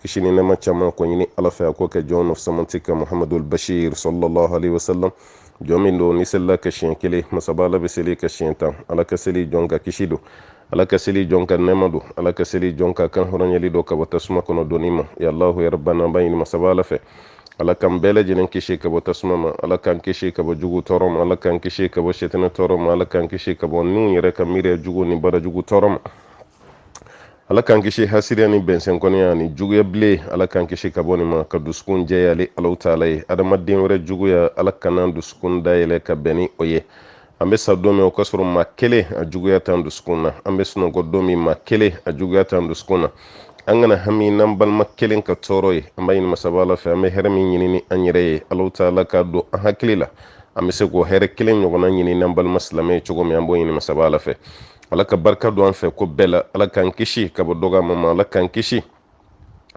kisi ni nɛma caman ko ɲini ala fɛ a k'o kɛ jɔn fisamanti kan muhamadul bashir sallallahu alaihi wasallam jɔn min don n'i selila a kan siɲɛ kelen masaba ala bɛ seli i kan siɲɛ tan ala ka seli jɔn kan kisi don ala ka seli jɔn kan nɛma don ala ka seli jɔn kan kan hɔrɔnyali don ka bɔ tasuma kɔnɔ donni ma ya allahu ya rabana an b'a ɲini masaba ala fɛ ala k'an bɛɛ lajɛlen kisi ka bɔ tasuma ma ala k'an kisi ka bɔ jugu tɔɔrɔ ma ala k'an kisi ka bɔ setɛnɛ tɔɔrɔ ma ala k'an kisi ka bɔ niw yɛrɛ ka miiriya jugu ni baara jugu tɔɔrɔ ma ala k'an kisi hasiriya ni bɛnsɛn kɔniya ni juguya bile ala k'an kisi ka bɔ nin ma k'an dusukun jɛya ale alaw taala ye adamaden wɛrɛ juguya ala kan'an dusukun dayɛlɛ ka bɛn ni o ye an bɛ sa don min o k'a sɔrɔ maa kelen a juguya t'an dusukun na an bɛ sunɔgɔ don min maa kelen a juguya t'an dusukun na an kana hami n'an balima kelen ka tɔɔrɔ ye an b'a ɲini masaba ala fɛ an bɛ hɛrɛ min ɲini an yɛrɛ ye alaw taala k'a don an hakili la an bɛ se k'o hɛrɛ kelen ɲɔgɔnna ɲini an balima silamɛ ye cogo min an b'o ɲini masaba ala fɛ ala ka barika don an fɛ ko bɛɛ la ala k'an kisi ka bɔ dɔgɔmaya ma ala k'an kisi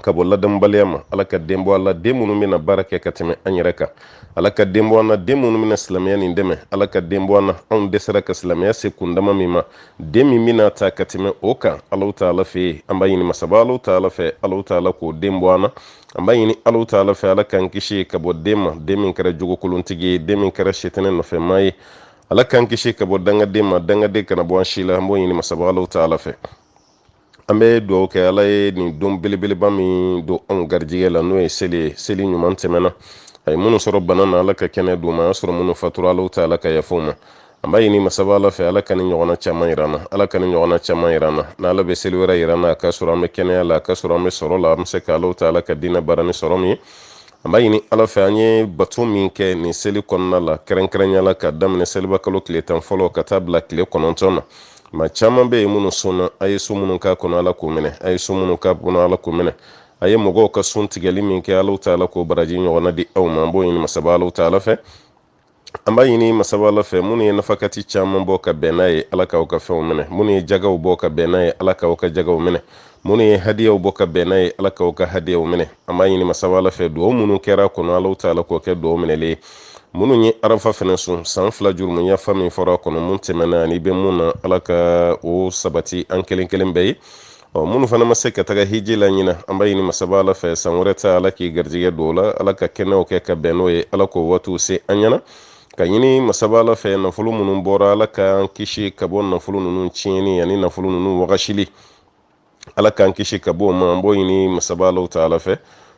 ka bɔ ladamubaliya ma ala ka den bɔ an la den minnu bɛna baara kɛ ka tɛmɛ an yɛrɛ kan ala ka den bɔ an na den minnu bɛna silamɛya nin dɛmɛ ala ka den bɔ an na anw dɛsɛra ka silamɛya se kundama min ma den min bɛna ta ka tɛmɛ o kan ala taala fɛ yen an b'a ɲini masaba ala taala fɛ ala taala k'o den bɔ an na an b'a ɲini ala taala fɛ ala k'an kisi ka bɔ den ma den min kɛra jogokolontigi ye den min kɛra setɛnɛ nɔfɛmaa ye ala k'an kisi ka bɔ dangaden ma dangaden kana bɔ an si la an b'o ɲini masaba alaw taala fɛ an bɛ dugawu kɛ ala ye nin don belebeleba min don anw garijɛgɛ la n'o ye seli ye seli ɲuman tɛmɛna a ye minnu sɔrɔ bana na ala ka kɛnɛ d'u ma a y'a sɔrɔ minnu fatura alaw taala ka yafa u ma an b'a ɲini masaba ala fɛ ala ka nin ɲɔgɔnna caman yira an na ala ka nin ɲɔgɔnna caman yira an na ni ala bɛ seli wɛrɛ yira an na a k'a sɔrɔ an bɛ kɛnɛya la a k'a sɔrɔ an bɛ sɔrɔ la an bɛ se ka alaw taala ka diinɛ baara ni sɔrɔ min ye an b'a ɲini ala fɛ an ye bato min kɛ nin seli kɔnɔna la kɛrɛnkɛrɛnya la ka daminɛ seliba kalo tile tan fɔlɔ ka taa bila tile kɔnɔntɔn na maa caman bɛ yen minnu sunna a ye sun minnu k'a kɔnɔ ala k'o minɛ a ye sun minnu k'a kɔnɔ ala k'o minɛ a ye mɔgɔw ka sun tigɛli min kɛ ala taala k'o baraji ɲɔgɔnna di aw ma an b'o ɲini masaba ala taala fɛ an b'a ɲini masaba ala fɛ minnu ye nafakati caman bɔ ka bɛn n'a ye ala k'aw ka fɛnw minɛ minnu ye jagaw bɔ ka bɛn n'a ye ala k'aw ka jagaw minɛ minnu ye hadiyaw bɔ ka bɛn n'a ye ala k'aw ka hadiyaw minɛ an b'a ɲini masaba ala fɛ dugaw minnu kɛra a kɔnɔ alaw taala k'o kɛ dugaw minɛlen ye minnu ye arafa fɛnɛ sun san fila jurumu yafa min fɔra a kɔnɔ mun tɛmɛna ani i bɛ mun na ala ka o sabati an kelen kelen bɛɛ ye ɔ minnu fana ma se ka taga hiji la ɲinan an b'a ɲini masaba ala fɛ san wɛrɛ ta ala k'i garijɛgɛ don o la ala ka kɛnɛw kɛ ka bɛn n'o ye ala k'o waatiw se an ɲɛna k'a ɲini masaba ala fɛ nafolo minnu bɔra ala k'an kisi ka bɔ nafolo ninnu tiɲɛni ani nafolo ninnu wagasili ala k'an kisi ka bɔ o ma an b'o ɲini masaba alaw taala fɛ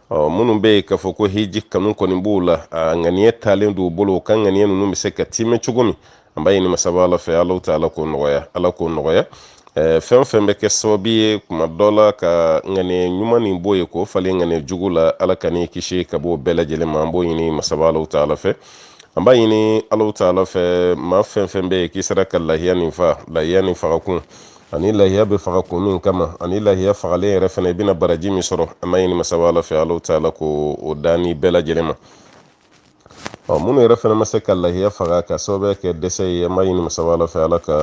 ɔ minnu bɛ yen k'a fɔ ko hiji kanu kɔni b'u la a ŋaniya taalen don u bolo u ka ŋaniya ninnu bɛ se ka tiimɛ cogo min an b'a ɲini masaba ala fɛ ala ta ala k'o nɔgɔya ala k'o nɔgɔya fɛn fɛn bɛ kɛ sababu ye kuma dɔ la ka ŋaniya ɲuman nin bɔ yen k'o falen ŋaniya jugu la ala ka n'i kisi ka bɔ bɛɛ lajɛlen ma an b'o ɲini masaba ala ta ala fɛ an b'a ɲini ala ta ala fɛ maa fɛn fɛn bɛ yen k'i sera ka lahiya nin fa lahiya nin fagakun ani lahiya bɛ faga kun min kama ani lahiya fagalen yɛrɛ fana i bɛna baraji min sɔrɔ an b'a ɲini masaba ala fɛ ala ta ala k'o da n'i bɛɛ lajɛlen ma ɔ minnu yɛrɛ fana ma se ka lahiya faga k'a sababu kɛ dɛsɛ ye an b'a ɲini masaba ala fɛ ala ka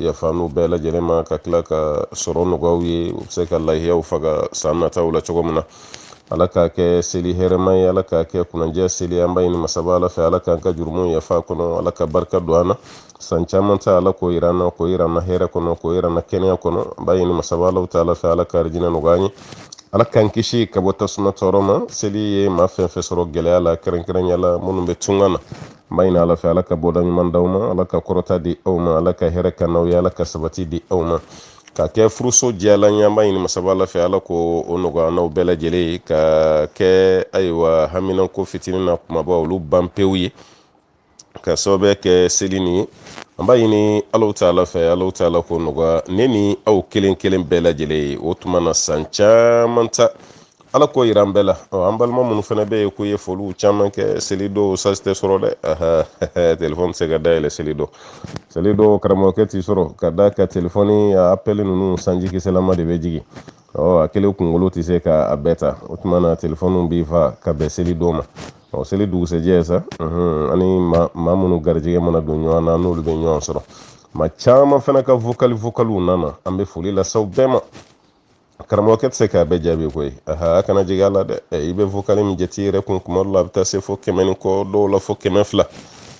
yafa n'u bɛɛ lajɛlen ma ka tila ka sɔrɔ nɔgɔya u ye u bɛ se ka lahiyaw faga san nataw la cogo min na ala k'a kɛ seli hɛrɛma ye ala k'a kɛ kunanjɛ seli an b'a ɲini masaba ala fɛ ala k'an ka jurumu yafa kɔnɔ ala ka barika don an na san caman ta ala k'o yira an na k'o yira an na hɛrɛ kɔnɔ k'o yira an na kɛnɛya kɔnɔ an b'a ɲini masaba alaw ta ala fɛ ala ka arijinɛ nɔgɔya an ye ala k'an kisi ka bɔ tasuma tɔɔrɔ ma seli ye maa fɛn fɛn sɔrɔ gɛlɛya la kɛrɛnkɛrɛnya la minnu bɛ tunga na an b'a ɲini ala fɛ ala ka bɔda ɲuman d'aw ma ala ka kɔrɔta di aw ma ala ka hɛrɛ kɛ n'aw ye ala ka sabati di aw ma ka kɛ furuso diyalan ye an b'a ɲini masaba ala fɛ ala k'o nɔgɔya n'aw bɛɛ lajɛlen ye ka kɛ ayiwa haminanko fitinin n'a kumaba olu ban pewu ye k'a sababu kɛ seli nin ye an b'a ɲini alaw ta ala fɛ alaw ta ala k'o nɔgɔya ne ni aw kelen kelen bɛɛ lajɛlen ye o tuma na san caman ta ala k'o yira an bɛɛ la an balima minnu fana bɛ yen k'u ye foliw caman kɛ seli don sansi tɛ sɔrɔ dɛ telefɔni tɛ se ka dayɛlɛ seli don seli don karamɔgɔkɛ tɛ sɔrɔ ka da ka telefɔni a apɛli ninnu sanji kisɛlama de bɛ jigin ɔ a kelen kunkolo tɛ se ka a bɛɛ ta o tuma na telefɔniw bɛ fa ka bɛn seli don ma ɔ seli dugusɛjɛ sa ani maa minnu garijɛgɛ mana don ɲɔgɔn na n'olu bɛ ɲɔgɔn sɔrɔ maa caman fana ka vokali vokaliw nana an bɛ foli lase aw bɛɛ ma karamɔgɔkɛ tɛ se k'a bɛɛ jaabi koyi aha a kana jigin a la dɛ i bɛ vokali min jate yɛrɛ kun kuma dɔ la a bɛ taa se fo kɛmɛ ni kɔ dɔw la fo kɛmɛ fila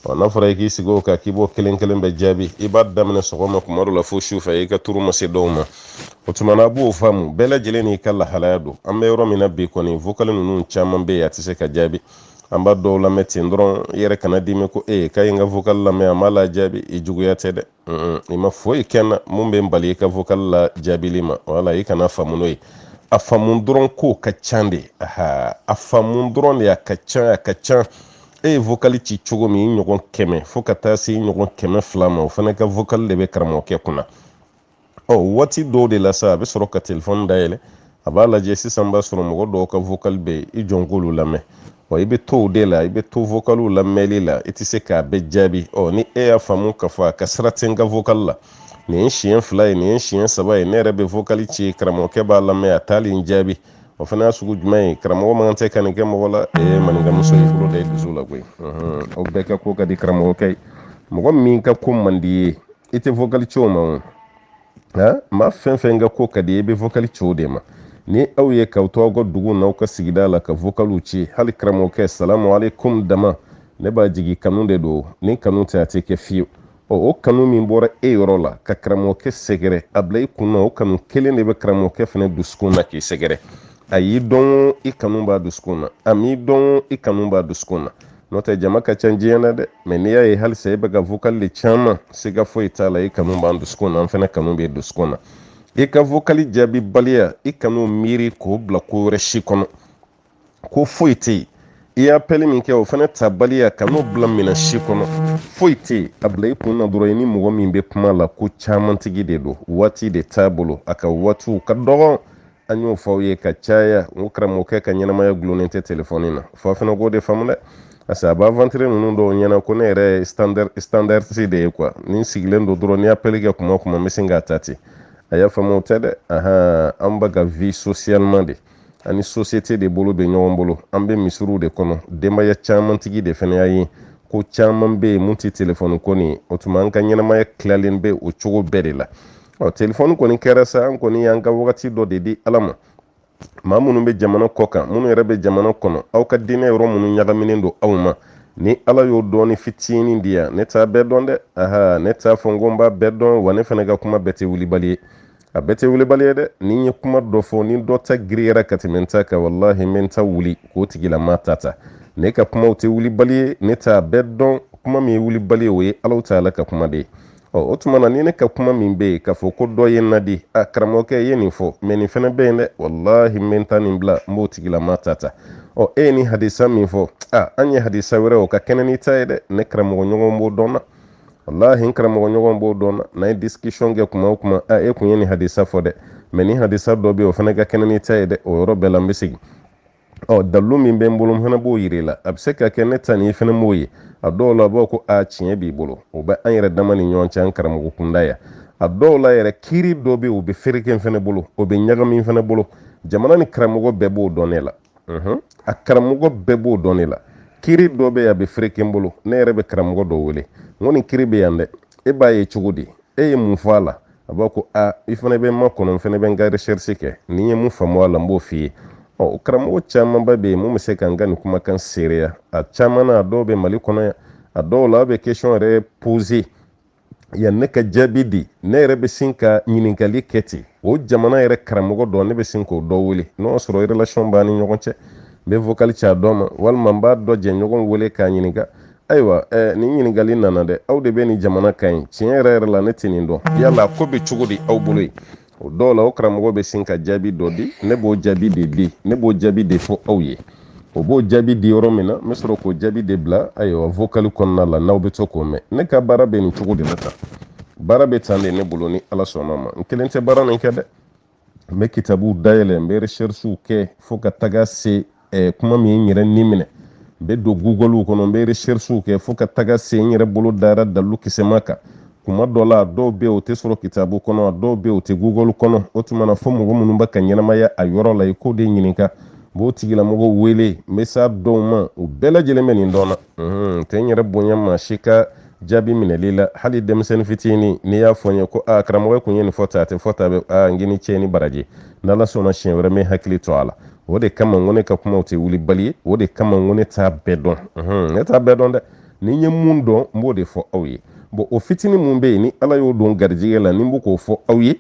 ɔ n'a fɔra i k'i sigi o kan k'i b'o kelen kelen bɛɛ jaabi i b'a daminɛ sɔgɔma kuma dɔ la fo su fɛ i ka turu ma se dɔw ma o tuma na a b'o faamu bɛɛ lajɛlen n'i ka lahalaya don an bɛ yɔrɔ min na bi kɔni vokali ninnu caman bɛ yen a tɛ se ka jaabi an b'a dɔw lamɛn ten dɔrɔn i yɛrɛ kana dimi ko e k'a ye n ka vokali lamɛn a m'a lajaabi i juguya tɛ dɛ i ma foyi kɛ n na mun bɛ n bali i ka vokali lajaabili ma wala i kana faamu n'o ye a faamu dɔrɔn ko a ka ca de aha a faamu dɔrɔn de a ka ca a ka ca e ye vokali ci cogo min i ɲɔgɔn kɛmɛ fo ka taa se i ɲɔgɔn kɛmɛ fila ma o fana ka vokali de bɛ karamɔgɔkɛ kunna ɔ waati dɔw de la sa a bɛ sɔrɔ ka telefɔni dayɛlɛ a b'a lajɛ sisan b'a sɔrɔ mɔgɔ dɔw ka vocal bɛ yen i jɔ n k'olu lamɛn ɔ i bɛ to o de la i bɛ to vocaliw lamɛnli la i tɛ se k'a bɛɛ jaabi ɔ ni e y'a faamu ka fɔ a ka sira tɛ n ka vocal la nin ye siɲɛ fila ye nin ye siɲɛ saba ye ne yɛrɛ bɛ vocal ci karamɔgɔkɛ b'a lamɛn a t'ali n jaabi o fana y'a sugu jumɛn ye karamɔgɔ man kan ka nin kɛ mɔgɔ la ee maninka muso ye bolo da i dusu la koyi aw bɛɛ ka ko ka di karamɔgɔkɛ ye mɔgɔ min ka ko man di ye i tɛ vokali ci o ma o nka maa fɛn fɛn ka ko ka di i bɛ vokali ci o de ma ni aw ye k'aw to aw ka dugu n'aw ka sigida la ka vokaliw ci hali karamɔgɔkɛ salamu aleykum dama ne b'a jigi kanu de don ni kanu tɛ a tɛ kɛ fiyewu ɔ o kanu min bɔra e yɔrɔ la ka karamɔgɔkɛ sɛgɛrɛ a bila i kun na o kanu kelen de bɛ karamɔgɔkɛ fana dusukun na k'i sɛgɛrɛ a y'i dɔn i kanu b'a dusukun na a m'i dɔn i kanu b'a dusukun na n'o tɛ jama ka ca diɲɛ na dɛ mɛ n'i y'a ye hali sa e bɛ ka vokali de ci an ma siga foyi t'a la i kanu b'an dusukun na an fana kanu b'i dusukun na i ka vokali jaabi baliya i kana miiri k'o bila ko wɛrɛ si kɔnɔ ko foyi tɛ yen i ye appel min kɛ o fana ta baliya kan'o bila minɛn si kɔnɔ foyi tɛ yen a bila i kun na dɔrɔn i ni mɔgɔ min bɛ kuma la ko caman tigi de don waati de t'a bolo a ka waatiw ka dɔgɔn an y'o fɔ aw ye ka caya n ko karamɔgɔkɛ ka ɲɛnamaya gulonnen tɛ telefɔni na f'aw fana k'o de faamu dɛ parce que a bɛ aventurier ninnu dɔw ɲɛna ko ne yɛrɛ standardiste de ye quoi ne sigilen don dɔrɔn n'i ye appel kɛ kuma o kuma n bɛ sin k'a ta ten a y'a faamu o tɛ dɛ ahan an bɛ ka vivre socialement de an ni société de bolo bɛ ɲɔgɔn bolo an bɛ misiriw de kɔnɔ denbaya caman tigi de fana y'an ye ko caman bɛ yen min tɛ telefɔni ko nin ye o tuma an ka ɲɛnamaya tilalen bɛ o cogo bɛɛ de la ɔ telefɔni kɔni kɛra sa an kɔni y'an ka wagati dɔ de di ala ma maa minnu bɛ jamana kɔ kan minnu yɛrɛ bɛ jamana kɔnɔ aw ka diinɛ yɔrɔ minnu ɲagaminen don aw ma ni ala y'o dɔnni fitinin di yan ne t'a bɛɛ dɔn dɛ aha ne t'a fɔ n ko n b'a bɛɛ dɔn wa ne fana ka kuma bɛɛ tɛ wulibali ye a bɛɛ tɛ wulibali ye dɛ ni n ye kuma dɔ fɔ ni dɔ ta girinyara ka tɛmɛ n ta kan walahi n bɛ n ta wuli k'o tigilama ta ta ne ka kumaw tɛ wulibali ye ne t'a bɛɛ dɔn kuma min ye wulibali ye o ye alahu taala ka kuma de ye ɔ o tuma na ni ne ka kuma min bɛ yen k'a fɔ ko dɔ ye n nadi a karamɔgɔkɛ ye nin fɔ mɛ nin fana bɛ yen dɛ walahi n bɛ n ta nin bila n b'o tigilama ta ta ɔ e ye nin hadisa min fɔ a an ye hadisa wɛrɛ o ka kɛnɛ n'i ta ye dɛ ne karamɔgɔ ɲɔgɔn b'o dɔn n na walahi n karamɔgɔ ɲɔgɔn b'o dɔn n na n'an ye discussion kɛ kuma o kuma a e kun ye nin hadisa fɔ dɛ mɛ nin hadisa dɔ bɛ yen o fana ka kɛnɛ n'i ta ye dɛ o yɔrɔ bɛɛ la n bɛ segin ɔ dalu min bɛ n bolo n fana b'o yira i la a bɛ se ka kɛ ne ta nin i fana m'o ye a dɔw la b'a ko a tiɲɛ b'i bolo o bɛ an yɛrɛ dama ni ɲɔgɔn cɛ an karamɔgɔ kunda yan a dɔw la yɛrɛ kiiri dɔ bɛ o bɛ fereke n fana bolo o bɛ ɲagami n fana bolo jamana nin karamɔgɔ bɛɛ b'o dɔn ne la a karamɔgɔ bɛɛ b'o dɔn ne la kiiri dɔ bɛ a bɛ fereke n bolo ne yɛrɛ bɛ karamɔgɔ dɔ wele n ko nin kiiri bɛ yan dɛ e b'a ye cogo di e ye mun fɔ a la a b'a ko a i fana bɛ n makɔnɔ n fana bɛ n ka recherche kɛ ni n ye mun faamu a la n b'o f'i ye ɔ karamɔgɔ camanba bɛ yen mun bɛ se ka n ka nin kumakan seereya a caman na a dɔw bɛ mali kɔnɔ yan a dɔw la a bɛ question yɛrɛ poser yan ne ka jaabi di ne yɛrɛ bɛ sin ka ɲininkali kɛ ten o jamana yɛrɛ karamɔgɔ dɔ ne bɛ sin k'o dɔ wele n'o sɔrɔ relation b'an ni ɲɔgɔn cɛ n bɛ vocal ci a dɔ ma walima n b'a dɔ jɛɲɔgɔn wele k'a ɲininka ayiwa eh, nin ɲininkali nana dɛ aw de bɛ nin jamana kan yen tiɲɛ yɛrɛ yɛrɛ la ne tɛ nin dɔn yala a ko bɛ cogo di aw bolo yen o dɔw la o karamɔgɔ bɛ sin ka jaabi dɔ di ne b'o jaabi de di ne b'o jaabi de fɔ aw ye o b'o jaabi di yɔrɔ min na n bɛ sɔrɔ k'o jaabi de bila ayiwa vokali kɔnɔna la n'aw bɛ to k'o mɛn ne ka baara bɛ nin cogo de la tan baara bɛ tan de ne bolo ni ala sɔnna ma n kelen tɛ baara nin kɛ dɛ n bɛ kitabuw dayɛlɛ n bɛ recherchew kɛ fo ka taga se eh, kuma min ye n yɛrɛ ni minɛ n bɛ don google kɔnɔ n bɛ recherchew kɛ fo ka taga se n yɛrɛ bolo dara dalu kisɛma kan kuma dɔ la a dɔw bɛ yen o tɛ sɔrɔ kitabu kɔnɔ a dɔw bɛ yen o tɛ google kɔnɔ o tuma na fo mɔgɔ minnu bɛ ka ɲɛnamaya a yɔrɔ la i k'o de ɲininka n b'o tigilamɔgɔw wele n bɛ s'a dɔw ma u bɛɛ lajɛlen bɛ nin dɔn ne tɛ n yɛrɛ bonya maa si ka jaabi minɛli la hali denmisɛnnin fitini n'i y'a fɔ n ye ko a karamɔgɔ e kun ye nin fɔ tan a tɛ fɔ tan dɛ a n k'i ni ce i ni baraji n'ala sɔnna siɲɛ wɛrɛ n bɛ n hakili to a la o de kama n ko ne ka kumaw tɛ wulibali ye o de kama n ko ne t'a bɛɛ dɔn ne t'a bɛɛ dɔn dɛ ni n ye mun dɔn n b'o de fɔ aw ye bon o fitini mun bɛ yen ni ala y'o don garijɛgɛ la ni n bɛ k'o fɔ aw ye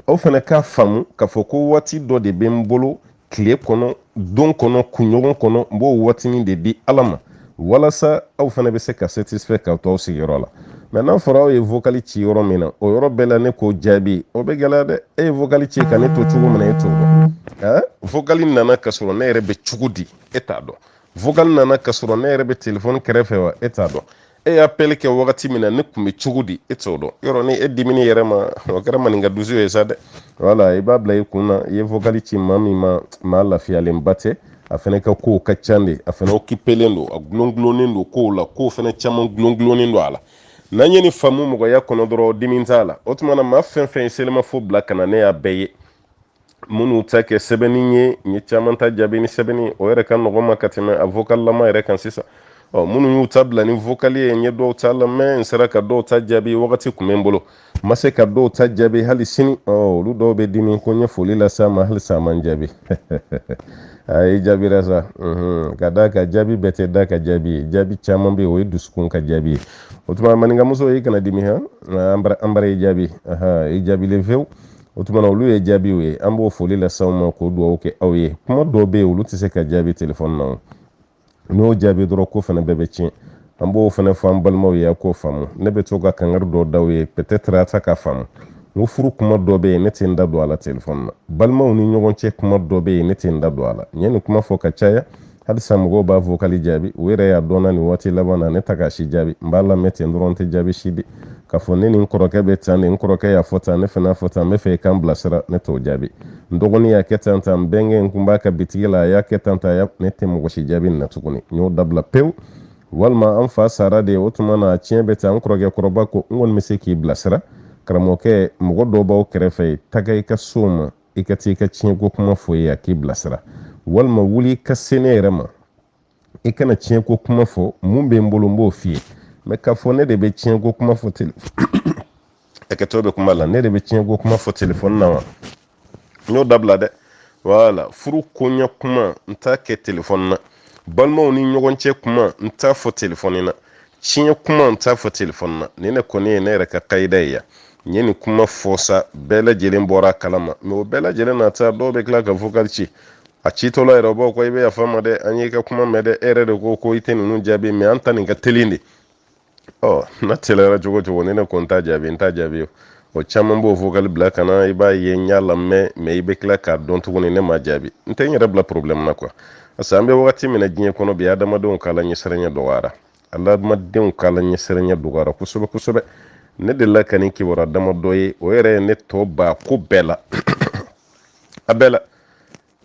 aw fana k'a faamu k'a fɔ ko waati dɔ de bɛ n bolo tile kɔnɔ don kɔnɔ kunɲɔgɔn kɔnɔ n b'o waatinin de di ala ma walasa aw fana bɛ se ka satisfait k'aw to aw sigiyɔrɔ la mais n'a fɔra aw ye vokali ci yɔrɔ min na o yɔrɔ bɛɛ la ne k'o jaabi o bɛ gɛlɛya dɛ e ye vokali ci ka ne to cogo min na e t'o dɔn ɛɛ vokali nana ka sɔrɔ ne yɛrɛ bɛ cogo di e t'a dɔn vokali nana ka sɔrɔ ne yɛrɛ bɛ telefɔni kɛrɛfɛ wa e t'a dɔn e ye appel kɛ wagati min na ne tun bɛ cogo di e t'o dɔn yɔrɔ ni e dimin'i yɛrɛ ma o kɛra maninka dusu ye sa dɛ voilà i b'a bila i kun na i ye vokali ci maa min ma maa lafiyalenba tɛ a fana ka kow ka ca dɛ a fana occupélen don a gulongulonnen don kow la kow fana caman gulongulonnen don a la n'an ye nin faamu mɔgɔya kɔnɔ dɔrɔn dimi t'a la o tuma na maa fɛn fɛn ye selimafo bila ka na ne y'a bɛɛ ye minnu ta kɛ sɛbɛnni ye n ye caman ta jaabi ni sɛbɛnni o yɛrɛ ka nɔgɔn n ma ka tɛmɛ a vokalilama yɛrɛ kan sisan ɔ minnu y'u ta bila ni vokali ye n ye dɔw ta lamɛn n sera ka dɔw ta jaabi wagati tun bɛ n bolo n ma se ka dɔw ta jaabi hali sini ɔ olu dɔw bɛ dimi ko n ye foli lase a ma hali sa a ma n jaabi ayi i jaabira sa ka d'a kan jaabi bɛɛ tɛ da ka jaabi ye jaabi caman bɛ yen o ye dusukun ka jaabi ye o tuma maninkamuso i kana dimi han an bara i jaabi i jaabilen fewu o tuma na olu ye jaabiw ye an b'o foli lase aw ma k'o dugawu kɛ aw ye kuma dɔw bɛ yen olu tɛ se ka jaabi telefɔni na n'o jaabi dɔrɔn ko fana bɛɛ bɛ tiɲɛ an b'o fana fɔ an balimaw ye a k'o faamu ne bɛ to ka kangari dɔw d'aw ye peut-être a ta k'a faamu n ko furu kuma dɔ bɛ yen ne tɛ n da don a la telefɔni na balimaw ni ɲɔgɔn cɛ kuma dɔ bɛ yen ne tɛ n da don a la n ye nin kuma fɔ ka caya halisa mɔgɔw b'a vokali jaabi u yɛrɛ y'a dɔnna nin waati laban na ne ta k'a si jaabi n b'a lamɛn ten dɔrɔn n tɛ jaabi si di k'a fɔ ne ni n kɔrɔkɛ bɛ tan de n kɔrɔkɛ y'a fɔ tan ne fana y'a fɔ tan n b'a fɛ i k'an bilasira ne t'o jaabi n dɔgɔnin y'a kɛ tan tan n bɛnkɛ n kun b'a ka bitigi la a y'a kɛ tan tan ne tɛ mɔgɔ si jaabi nin na tuguni n y'o dabila pewu walima an fa sara de o tuma na tiɲɛ bɛ tan n kɔrɔkɛ kɔrɔba ko n kɔni bɛ se k'i bilasira karamɔgɔkɛ mɔgɔ dɔ b'aw kɛrɛfɛ taga i ka s'o ma i ka t'i ka tiɲɛko kuma f'o ye a k'i bilasira walima wuli i ka se ne yɛrɛ ma i ka na tiɲɛko kuma fɔ mun bɛ n bolo n b'o f'i ye mɛ k'a fɔ ne de bɛ tiɲɛko kuma fɔ tele hakɛto bɛ kuma la ne de bɛ tiɲɛko kuma fɔ telefɔni na wa n y'o dabila dɛ wala furu koɲɛ kuma n t'a kɛ telefɔni na balimaw ni ɲɔgɔn cɛ kuma n t'a fɔ telefɔni na tiɲɛ kuma n t'a fɔ telefɔni na nin ne kɔni ye ne yɛrɛ ka kayida ye yan n ye nin kuma fɔ sa bɛɛ lajɛlen bɔra a kalama mɛ o bɛɛ lajɛlen n'a ta dɔw bɛ tila ka vokali ci a citɔla yɛrɛ b'a fɔ ko i bɛ yafa an ma dɛ an y'i ka kuma mɛn dɛ e yɛrɛ de ko ko i tɛ ninnu jaabi mɛ an ta nin ka teli de ɔ n'a teliyara cogo o cogo ni ne ko n t'a jaabi n t'a jaabi o caman b'o vokali bila ka na i b'a ye n y'a lamɛn mɛ i bɛ tila k'a dɔn tuguni ne m'a jaabi n tɛ n yɛrɛ bila problɛmu na kuwa parce que an bɛ wagati min na diɲɛ kɔnɔ bi adamadenw ka ala ɲɛsiranya dɔgɔyara adamadenw ka ala ɲɛsiranya dɔgɔyara kosɛbɛ kosɛbɛ ne delila ka nin kibaruya damadɔ ye o yɛrɛ ye ne tɔ ba ko bɛɛ la a bɛɛ la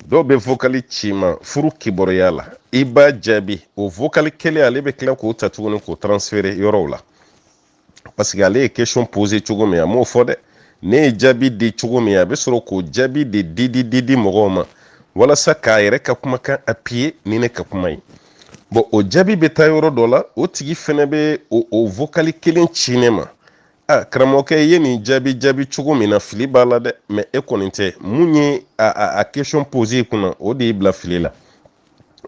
dɔw bɛ vokali ci i ma furu kibaruya la i b'a jaabi o vokali kelen ale bɛ tila k'o ta tuguni k'o transférer yɔrɔw la parce que ale ye question poser cogo min a m'o fɔ dɛ ne ye jaabi di cogo min a bɛ sɔrɔ k'o jaabi de di di di di mɔgɔw ma walasa k'a yɛrɛ ka kumakan appuyer ni ne ka kuma ye bɔn o jaabi bɛ taa yɔrɔ dɔ la o tigi fɛnɛ bɛ o o vokali kelen ci ne ma a karamɔgɔkɛ i ye nin jaabi jaabi cogo min na fili b'a la dɛ mɛ e kɔni tɛ mun ye a a a question poser i kunna o de y'i bila fili la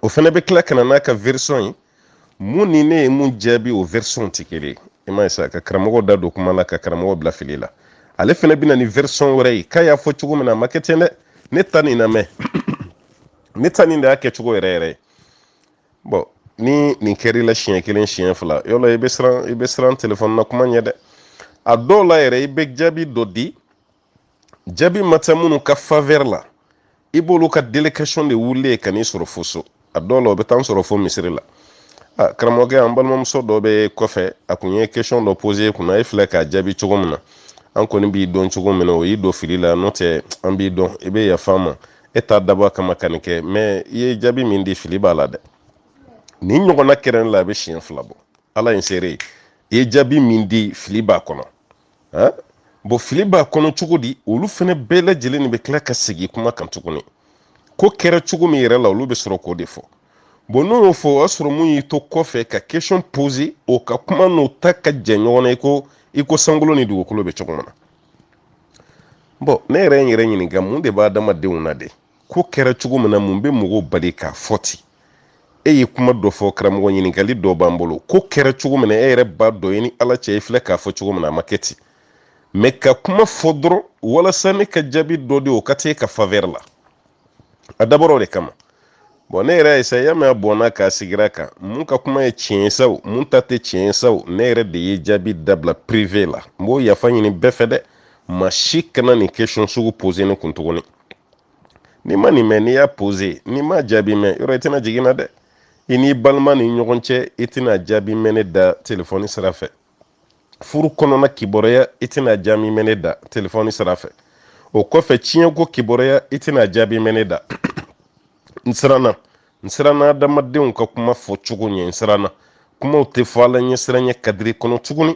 o fɛnɛ bɛ tila ka na n'a ka version ye mun ni ne ye mun jaabi o version tɛ kelen ye i m'a ye sa ka karamɔgɔ da don kuma la ka karamɔgɔ bila fili la ale fana bɛ na ni version wɛrɛ ye k'a y'a fɔ cogo min na a ma kɛ ten dɛ ne ta nin lamɛn ne ta nin de y'a kɛcogo yɛrɛ yɛrɛ ye bɔn ni nin kɛr'i la siɲɛ kelen siɲɛ fila yɔrɔ i bɛ siran i bɛ siran telefɔni na kuma ɲɛ dɛ a dɔw la yɛrɛ i bɛ jaabi dɔ di jaabi ma taa minnu ka faveur la i b'olu ka délégation de wulilen ka n'i sɔrɔ fo so a dɔw la o bɛ taa n sɔrɔ fo misiri la a karamɔgɔkɛ an balimamuso dɔ bɛ kɔfɛ a kun ye question dɔ poser kunna e filɛ k'a jaabi cogo min na an kɔni b'i dɔn cogo min na o y'i don fili la n'o tɛ an b'i dɔn i bɛ yafa ma e t'a dabɔ a kama ka nin kɛ mɛ i ye jaabi min di fili b'a la dɛ nin ɲɔgɔnna kɛra ne la a bɛ siɲɛ fila bɔ ala ye n seere ye i ye jaabi min di fili b'a kɔnɔ bɔn fili b'a kɔnɔ cogo di olu fɛnɛ bɛɛ lajɛlen de bɛ tila ka segin kuma kan tuguni ko kɛra cogo min yɛrɛ la olu bɛ sɔrɔ k'o de fɔ bɔn n'o y'o fɔ o y'a sɔrɔ mun y'i to kɔfɛ ka question poser o ka kuma n'o ta ka jan ɲɔgɔn na i ko i ko sankolo ni dugukolo bɛ cogo min na bɔn ne yɛrɛ ye n yɛrɛ ɲininka mun de b'an adamadenw na de ko kɛra cogo min na mun bɛ mɔgɔw bali k'a fɔ ten e ye kuma dɔ fɔ karamɔgɔ ɲininkali dɔ b'an bolo ko kɛra cogo min na e yɛrɛ b'a dɔn i ni ala cɛ i filɛ k'a fɔ cogo min na a ma kɛ ten mɛ ka kuma fɔ dɔrɔn walasa ne ka jaabi dɔ di o ka kɛ e ka faveur la a dabɔra o de kama bɔn ne yɛrɛ ye sa y'a mɛn a bɔnna k'a sigira kan mun ka kuma ye tiɲɛ ye sa o mun ta tɛ tiɲɛ ye sa o ne yɛrɛ de ye jaabi dabila privé la n b'o yafa ɲini bɛɛ fɛ dɛ maa si kana nin question sugu poser ne kun tuguni n'i ma nin mɛn n'i y'a poser n'i ma jaabi mɛn yɔrɔ i tɛna jigi n na dɛ i n'i balima ni ɲɔgɔn cɛ i tɛna jaabi mɛn ne da telefɔni sira fɛ furu kɔnɔna kibaruya i tɛna jaabi mɛn ne da telefɔni sira fɛ o kɔfɛ tiɲɛko kibaruya i tɛna jaabi mɛn ne da n siranna n siranna adamadenw ka kuma fɔ cogo ɲɛ n siranna kumaw tɛ fɔ ala ɲɛsiranɲɛ kadiri kɔnɔ tuguni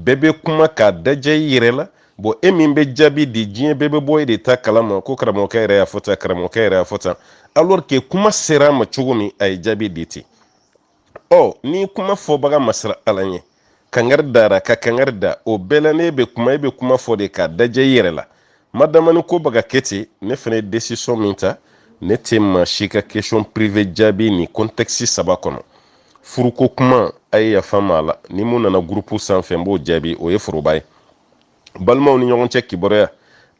bɛɛ bɛ kuma k'a dajɛ i yɛrɛ la bɔn e min bɛ jaabi di diɲɛ bɛɛ bɛ bɔ e de ta kala ma ko karamɔgɔkɛ yɛrɛ y'a fɔ tan karamɔgɔkɛ yɛrɛ y'a fɔ tan alors que kuma sera a ma cogo min a ye jaabi di ten ɔ ni kuma fɔbaga ma siran ala ɲɛ kangari dara ka kangari da o bɛɛ la ne bɛ kuma e bɛ kuma fɔ de k'a dajɛ i yɛrɛ la maa damanin ko bɛ ka kɛ ten ne fana ye décision min ta ne tɛ maa si ka question privé jaabi nin contexte saba kɔnɔ furuko kuma a ye yafa ma a la ni mun nana gurupu sanfɛ n b'o jaabi o ye foroba ye balimaw ni ɲɔgɔn cɛ kibaruya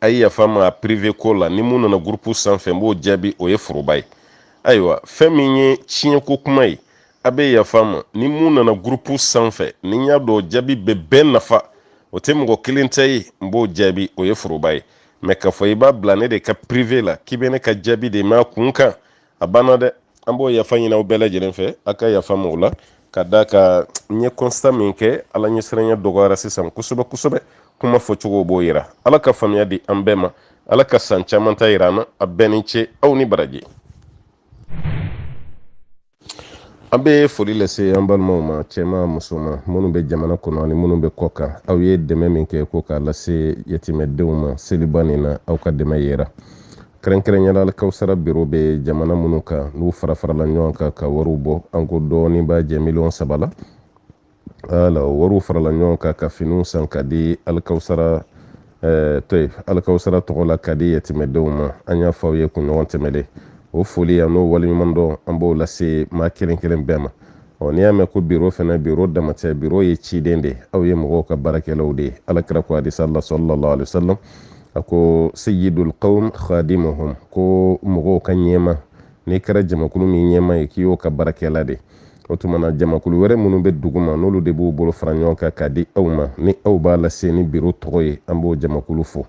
a ye yafa ma privé ko la ni mun nana gurupu sanfɛ n b'o jaabi o ye foroba ye ayiwa fɛn min ye tiɲɛko kuma ye a bɛ yafa ma ni mun nana gurupu sanfɛ ni n y'a dɔn jaabi bɛ bɛɛ nafa o tɛ mɔgɔ kelen ta ye n b'o jaabi o ye foroba ye mɛ k'a fɔ i b'a bila ne de ka privé la k'i bɛ ne ka jaabi de m'a kun kan a banna dɛ an b'o yafa ɲini aw bɛɛ lajɛlen fɛ a ka yafa n ma o la ka da ka n ye constat min kɛ ala ɲɛsiranya dɔgɔyara sisan kosɛbɛ kosɛbɛ kuma fɔcogo b'o yira ala ka faamuya di an bɛɛ ma ala ka san caman ta yira an na a bɛɛ ni ce aw ni baraji an bɛ foli lase an balimaw ma cɛma musoman minnu bɛ jamana kɔnɔ ani minnu bɛ kɔkan aw ye dɛmɛ min kɛ ko k'a lase yatimɛdenw ma seliba nin na aw ka dɛmɛ yera kɛrɛnkɛrɛnyala alikawusara biro bɛ jamana minnu kan n'u fara farala ɲɔgɔn kan ka wariw bɔ an ko dɔɔnin b'a jɛ miliyɔn saba la wala o wariw farala ɲɔgɔn kan ka finiw san ka di alikawusara eh, to ye alikawusara tɔgɔ la ka di yatimɛdenw ma an y'a fɔ aw ye kunɲɔgɔn tɛmɛlen o foli ani o waleɲumandɔn an b'o lase maa kelen kelen bɛɛ ma ɔ n'i y'a mɛn ko biro fana biro dama tɛ biro ye ciden de aw ye mɔgɔw ka baarakɛlaw de ye alakira ko hadisa la sallallahu alaihi wasallam a ko sayyidul qawm khadimuhum ko mɔgɔw ka ɲɛmaa n'i kɛra jamakulu min ɲɛmaa ye k'i y'o ka baarakɛla de o tuma na jamakulu wɛrɛ minnu bɛ duguma n'olu de b'u bolo fara ɲɔgɔn kan k'a di aw ma ni aw b'a lase ni biro tɔgɔ ye an b'o jamakulu fo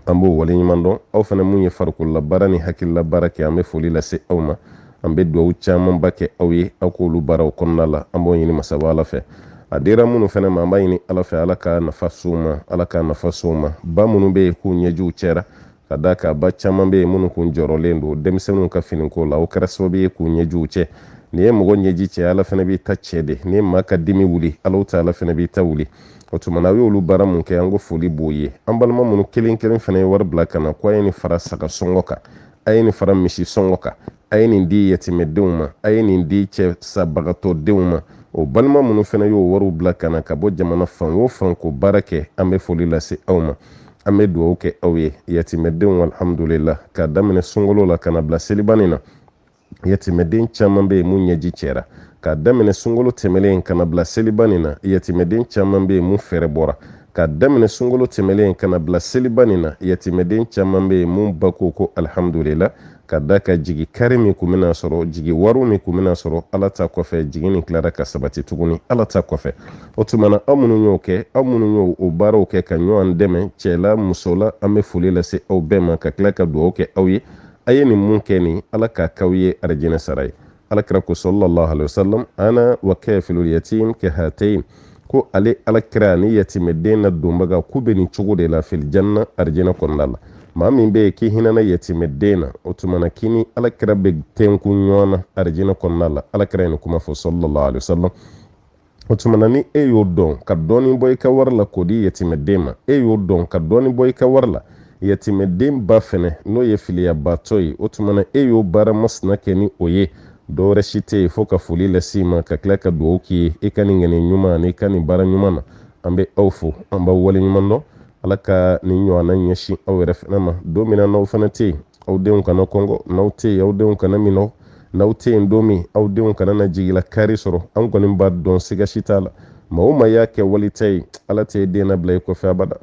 an b'o waleɲuman dɔn aw fana mun ye farikololabaara ni hakililabaara kɛ an bɛ foli lase aw ma an bɛ dugawu camanba kɛ aw ye aw k'olu baaraw kɔnɔna la an b'o ɲini masaba ala fɛ a dira minnu fana ma an b'a ɲini ala fɛ ala ka nafa s'u ma ala ka nafa s'u ma ba minnu bɛ yen k'u ɲɛjiw cɛra ka da ka ba caman bɛ yen minnu kun jɔrɔlen don denmisɛnninw ka finiko la o kɛra sababu ye k'u ɲɛjiw cɛ n'i ye mɔgɔ ɲɛji cɛ ala fana b'i ta cɛ de ni maa ka dimi wuli ala ta ala fana b'i ta wuli o tuma na a y'olu baara mun kɛ an ko foli b'o ye an balima minnu kelen kelen fana ye wari bila ka na ko a ye nin fara saga sɔngɔ kan a ye nin fara misi sɔngɔ kan a ye nin di yatimɛdenw ma a ye nin di cɛsabagatɔdenw ma o balima minnu fana y'o wariw bila ka na ka bɔ jamana fan o fan k'o baara kɛ an bɛ foli lase aw ma an bɛ dugawu kɛ aw ye yatimɛdenw alhamdulila k'a daminɛ sunkalo la ka na bila seliba nin na yatimɛden caman bɛ yen mun ɲɛji cɛra k'a daminɛ sunkalo tɛmɛlen ka na bila seliba nin na yatimɛden caman bɛ yen mun fɛɛrɛbɔra k'a daminɛ sunkalo tɛmɛlen ka na bila seliba nin na yatimɛden caman bɛ yen mun ba ko ko alihamudulila ka da ka jigikari min kun bɛna sɔrɔ jigiwaaro min kun bɛna sɔrɔ ala ta kɔfɛ jigi nin tilara ka sabati tuguni ala ta kɔfɛ o tuma na aw minnu y'o kɛ aw minnu y'o o baaraw kɛ ka ɲɔgɔn dɛmɛ cɛla musola an bɛ foli lase aw bɛɛ ma ka tila ka dugawu kɛ aw ye a ye nin mun kɛ nin ala k'a k'aw ye arijinɛ sara ye alakira ko sallallahu alaihi wasallam ana wa kafilul yatim kahatayn ko ale alakira ni yatimɛden ladonbaga k'u bɛ nin cogo de la fil janna arijinɛ kɔnɔna la maa min bɛ yen k'i hinɛna yatimɛden na o tuma na k'i ni alakira bɛ tɛnkun ɲɔgɔn na arijinɛ kɔnɔna la alakira ye nin kuma fɔ sallallahu alaihi wasallam o tuma na ni e y'o dɔn ka dɔɔnin bɔ i ka wari la k'o di yatimɛden ma e y'o dɔn ka dɔɔnin bɔ i ka wari la yatimɛden ba fɛnɛ n'o ye filiyabaatɔ ye o tuma na e y'o baara masina kɛ ni o ye dɔwɛrɛ si tɛ yen fo ka foli lase i ma ka tila ka dugawu k'i ye i ka nin ŋaniya ɲuman ani i ka nin baara ɲuman na an bɛ aw fo an b'aw waleɲuman dɔn ala ka nin ɲɔgɔnna ɲɛsin aw yɛrɛ fana ma don min na n'aw fana tɛ yen aw denw kana kɔngɔ n'aw tɛ yen aw denw kana minɔ n'aw tɛ yen don min aw denw kana na jigilakari sɔrɔ an kɔni b'a dɔn siga si t'a la maa o maa y'a kɛ wali ta ye ala t'i den nabila i kɔfɛ abada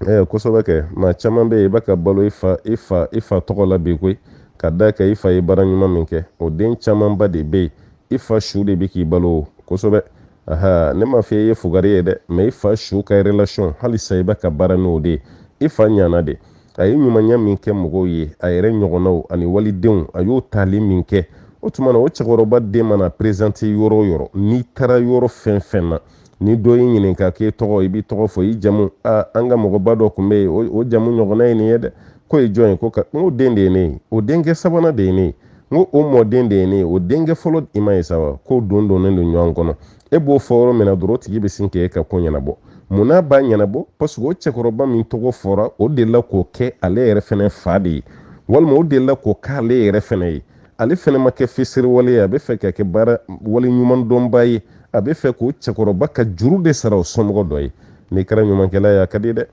ɛɛ kosɛbɛ kɛ maa caman bɛ yen i bɛ ka balo i fa i fa i fa tɔgɔ la bi koyi ka d'a kan i fa ye baara ɲuman min kɛ o den camanba de bɛ yen i fa su de bɛ k'i balo o kosɛbɛ aha ne m'a fɔ i ye fugari ye dɛ mɛ i fa su ka relation halisa i bɛ ka baara n'o de ye i fa ɲana de a ye ɲumanya min kɛ mɔgɔw ye a yɛrɛ ɲɔgɔnnaw ani walidenw a y'o tali min kɛ o tuma na o cɛkɔrɔba den mana prezante yɔrɔ o yɔrɔ n'i taara yɔrɔ fɛn fɛn na ni dɔ y'i ɲininka k'e tɔgɔ i b'i tɔgɔ fɔ i jamu a an ka mɔgɔba dɔ tun bɛ yen o jamu ɲɔgɔnna ye nin ye dɛ k'o ye jɔn ye ko ka n ko den de ye ne ye o denkɛ sabanan de ye ne ye n ko o mɔden de ye ne ye o denkɛ fɔlɔ i m'a ye sa wa k'o don donnen don ɲɔgɔn kɔnɔ e b'o fɔ yɔrɔ min na dɔrɔn o tigi bɛ sin k'e ka ko ɲɛnabɔ munna a b'a ɲɛnabɔ paseke o cɛkɔrɔba min tɔgɔ fɔra o delila k'o kɛ ale yɛrɛ fɛnɛ fa de ye walima o delila k'o k'ale yɛrɛ fɛnɛ ye ale fɛnɛ ma kɛ fisiriwale ye a bɛ fɛ ka kɛ baara wale ɲuman dɔnba ye a bɛ fɛ k'o cɛkɔrɔba ka juru de sara o somɔgɔ dɔ ye n'i kɛra ɲumankɛla ye a ka di dɛ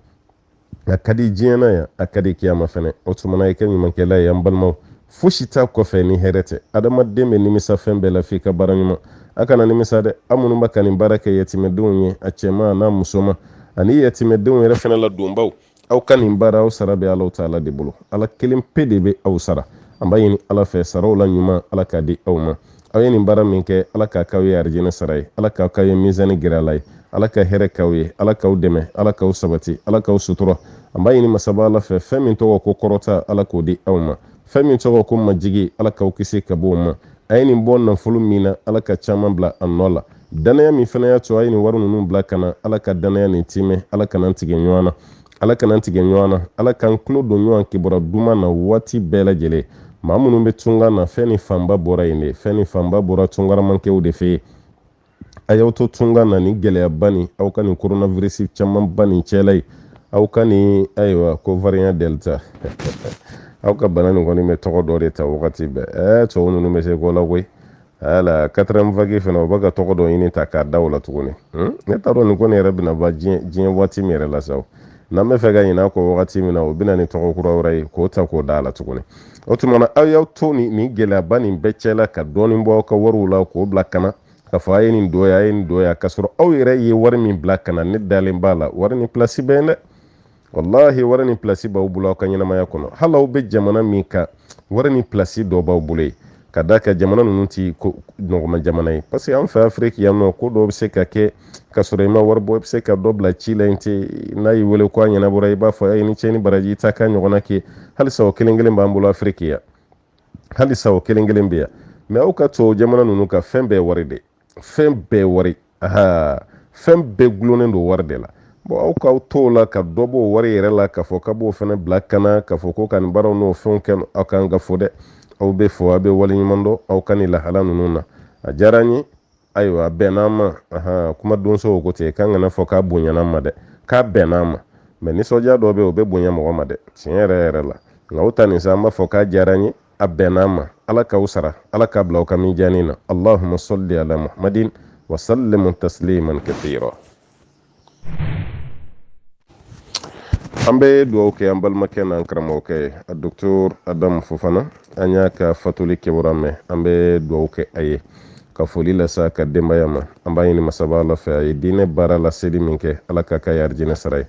a ka di diɲɛ na yan a ka di kiyama fɛnɛ o tumana i kɛ ɲumankɛla ye an balimaw fosi t'a kɔfɛ ni hɛrɛ tɛ adamaden bɛ nimisa fɛn bɛɛ la f'i ka baara ɲuman a kana nimisa dɛ aw minnu bɛ ka nin baara kɛ yatimɛdenw ye a cɛman n'a musoman ani yatimɛdenw yɛrɛ fɛnɛ ladonbaw aw ka nin baara aw sara bɛ alahu taala de bolo ala kelen pe de bɛ aw sara an b'a ɲini ala fɛ saraw la ɲuman ala k'a di aw ma aw ye nin baara min kɛ ala k'a k'aw ye arijinɛ sara ye ala k'a k'aw ye mizani giriyalan ye ala ka hɛrɛ k'aw ye ala k'aw dɛmɛ ala k'aw sabati ala k'aw sutura an b'a ɲini masaba ala fɛ fɛn min tɔgɔ ko kɔrɔta ala k'o di aw ma fɛn min tɔgɔ ko majigi ala k'aw kisi ka bɔ o ma a ye nin bɔ nafolo min na ala ka caman bila a nɔ la dannaya min fana y'a to a ye nin wari ninnu bila ka na ala ka dannaya nin tiimɛ ala kan'an tigɛ ɲɔgɔn na ala kan'an tigɛ ɲɔgɔn na ala k'an tulo don ɲɔgɔn kibaruya duman na waati bɛɛ lajɛlen maa minnu bɛ tunga na fɛn nin fanba bɔra yen de fɛn nin fanba bɔra tungaramankɛw de fɛ a y'aw to tunga na ni gɛlɛyaba nin aw ka nin coronavirus camanba nin cɛla ye aw ka nin ayiwa ko variant delta aw ka bana nin kɔni bɛ tɔgɔ dɔ de ta wagati bɛɛ ɛɛ tubabu ninnu bɛ se ko la koyi ala quatrième vague fana o bɛ ka tɔgɔ dɔ ɲini ta k'a da o la tuguni hmm? ne t'a dɔn nin ko nin yɛrɛ bɛna ban diɲɛ waati min yɛrɛ la sa n'an bɛ fɛ ka ɲin'a kɔ wagati min na o bɛ na ni tɔgɔ kura wɛrɛ ye k'o ta k'o da a la tuguni o tuma na aw y'aw to nin gɛlɛyaba nin bɛɛ cɛ la ka dɔɔnin bɔ aw ka wariw la k'o bila ka na k'a fɔ a ye nin dɔ ye a ye nin dɔ ye k'a sɔrɔ aw yɛrɛ ye wari min bila ka na ne dalen b'a la wari ni pilasi bɛ yen dɛ walahi wari ni pilasi b'aw bolo aw ka ɲɛnamaya kɔnɔ hali aw bɛ jamana min kan wari ni pilasi dɔ b'aw bolo yen ka d'a kan jamana ninnu ti nɔgɔma jamana ye parce que an fɛ afiriki yan nɔ ko dɔw bɛ se ka kɛ ka sɔrɔ i ma wari bɔ i bɛ se ka dɔ bila ci la yen ten n'a y'i wele ko a ɲɛnabɔra i b'a fɔ a ye ni ce ni baraji i ta k'a ɲɔgɔnna kɛ halisa o kelen kelen b'an bolo afiriki yan halisa o kelen kelen bɛ yan mɛ aw ka tubabu jamana ninnu ka fɛn bɛɛ wari de fɛn bɛɛ wari fɛn bɛɛ gulonnen don wari de la bon aw k'aw to la ka dɔ b'o wari yɛrɛ la k'a fɔ k'a b'o fana bila ka na k'a fɔ ko ka nin baaraw n'o fɛnw kɛ aw kan ka fo dɛ aw bɛ fo aw bɛ waleɲuman dɔn aw ka nin lahala ninnu na a diyara an ye ayiwa a bɛnn'an ma kumadonsow ko ten k'an kan'a fɔ k'a bonyan'an ma dɛ k'a bɛnn'an ma mɛ nisɔndiya dɔ bɛ yen o bɛ bonya mɔgɔ ma dɛ tiɲɛ yɛrɛ yɛrɛ la nka o ta nin sa an b'a fɔ k'a diyara an ye a bɛnna an ma ala k'aw sara ala k'a bila aw ka mijaani na allahuma salli ala muhammadin wa sallim tasliman kathira an bɛ dugawu kɛ an balimakɛ n'an karamɔgɔkɛ ye a docteur adamu fofana an y'a ka fatuli kibaruya mɛn an bɛ dugawu kɛ a ye ka foli lase a ka denbaya ma an b'a ɲini masaba ala fɛ a ye diinɛ baara laseli min kɛ ala k'a k'a y'arijinɛ sara ye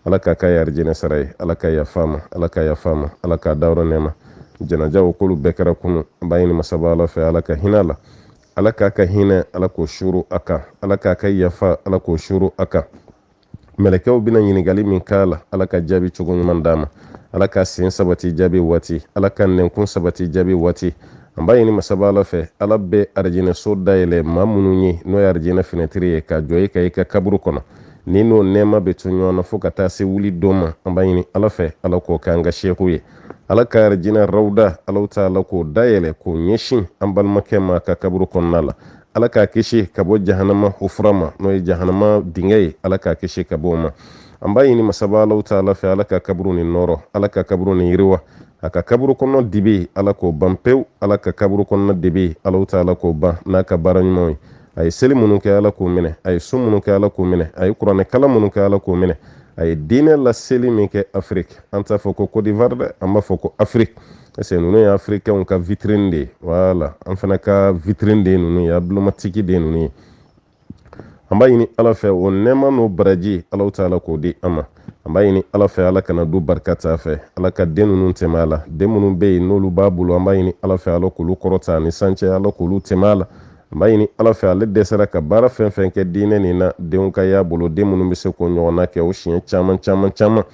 ala k'a k'a y'arijinɛ sara ye ala ka yaf'a ma ala ka yaf'a ma ala k'a dayɔrɔ nɛɛma janaja o k'olu bɛɛ kɛra kunu an b'a ɲini masaba ala fɛ ala ka hin'a la ala k'a ka hinɛ ala k'o suru a kan ala k'a ka yafa ala k'o suru a kan mɛlɛkɛw bɛna ɲininkali min k'a la ala ka jaabi cogo ɲuman d'a ma ala k'a sen sabati jaabi waati ala k'a nɛnkun sabati jaabi waati an b'a ɲini masaba ala fɛ ala bɛ arijinɛso dayɛlɛ maa minnu ye n'o ye arijinɛ finɛtiri ye ka jɔ i ka i ka kaburu kɔnɔ ni n'o nɛɛma bɛ to ɲɔgɔn na fo ka taa se wuli don ma an b'a ɲini ala fɛ ala k'o k'an ka seku ye ala ka arijinɛ rawuda alahu taala k'o dayɛlɛ k'o ɲɛsin an balimakɛ ma ka kaburu kɔnɔna la ala k'a kisi ka bɔ jahanama hufura ma n'o ye jahanama dingɛ ye ala k'a kisi ka bɔ o ma an b'a ɲini masaba alahu taala fɛ ala ka kaburu ni nɔɔrɔ ala ka kaburu ni yiriwa a ka kaburu kɔnɔ dibi ala k'o ban pewu ala ka kaburu kɔnɔ dibi alahu taala k'o ban n'a ka baara ɲumanw ye a ye seli minnu kɛ ala k'o minɛ a ye sun minnu kɛ ala k'o minɛ a ye kuranɛ kalan minnu kɛ ala k'o minɛ a ye diinɛ laseli min kɛ afiriki an t'a fɔ ko côte d'ivoire dɛ an b'a fɔ ko afiriki parce que ninnu ye afirikɛnw ka vitrine de ye voilà an fana ka vitrine de ye ninnu ye emblématique de ye ninnu ye an b'a ɲini ala fɛ o nɛɛma n'o baraji alahu taala k'o di an ma an b'a ɲini ala fɛ ala kana du barika t'a fɛ ala ka den ninnu tɛmɛ a la den minnu bɛ yen n'olu b'a bolo an b'a ɲini ala fɛ ala k'olu kɔrɔta a ni san cɛ ala k'olu tɛmɛ a la an b'a ɲini ala fɛ ale de sera ka baara fɛn fɛn kɛ diinɛ nin na denw ka y'a bolo den minnu bɛ se k'o ɲɔgɔnna kɛ o siɲɛ caman caman caman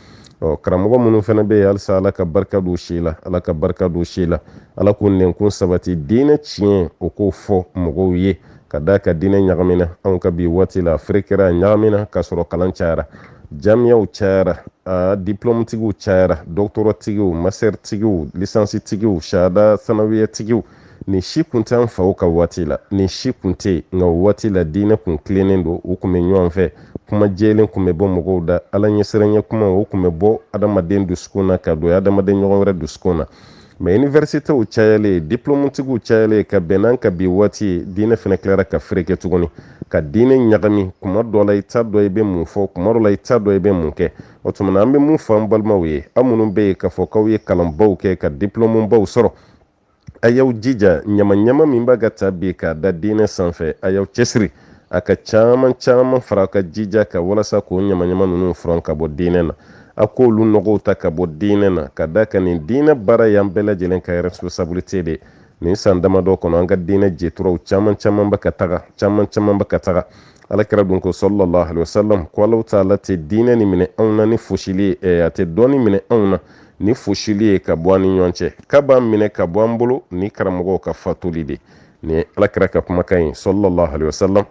ɔ karamɔgɔ minnu fana bɛ yen halisa ala ka barika don si la ala ka barika don si la ala k'o nɛnkun sabati diinɛ tiɲɛ o k'o fɔ mɔgɔw ye ka d'a kan diinɛ ɲagamina anw ka bi waati la ferekera ɲagamina k'a sɔrɔ kalan cayara jamiyaw cayara a diplɔmutigiw cayara dɔkitɔratigiw masitɛritigiw lisansitigiw sahada sanawiyatigiw nin si kun tɛ an faw ka waati la nin si kun tɛ nka o waati la diinɛ kun tilennen don u kun bɛ ɲɔgɔn fɛ kuma jɛlen kun bɛ bɔ mɔgɔw da ala ɲɛsiranɲɛ kuma o kun bɛ bɔ adamaden dusukun na ka don adamaden ɲɔgɔn wɛrɛ dusukun na mɛ iniversitew cayalen diplɔmutigiw cayalen ka bɛn n'an ka bi waati ye diinɛ fana tilara ka fereke tuguni ka diinɛ ɲagami kuma dɔ la i t'a dɔn i bɛ mun fɔ kuma dɔ la i t'a dɔn i bɛ mun kɛ o tuma na an bɛ mun fɔ an balimaw ye aw minnu bɛ yen k'a fɔ k'aw ye kalanbaw kɛ ka diplɔmubaw sɔrɔ a y'aw jija ɲamaɲama min b'a ka ta bi k'a da diinɛ sanfɛ a y'aw cɛsiri a ka caman caman fara ka jija ka walasa k'o ɲamaɲama ninnu furan ka bɔ diinɛ na a k'olu nɔgɔw ta ka bɔ diinɛ na ka d'a kan nin diinɛ baara y'an bɛɛ lajɛlen ka responsabilité de nin san damadɔ kɔnɔ an ka diinɛ jɛturaw caman caman bɛ ka taga caman caman bɛ ka taga alakira dun ko sallallahu alaihi wasallam ko alahu taala tɛ diinɛ nin minɛ anw na ni fosili ye eh, a tɛ dɔnni minɛ anw na ni fosili ye ka bɔ an ni ɲɔgɔn cɛ k'a b'a minɛ ka bɔ an bolo ni karamɔgɔw ka fatuli de nin ye alakira ka kumakan ye sallallahu alaihi wasallam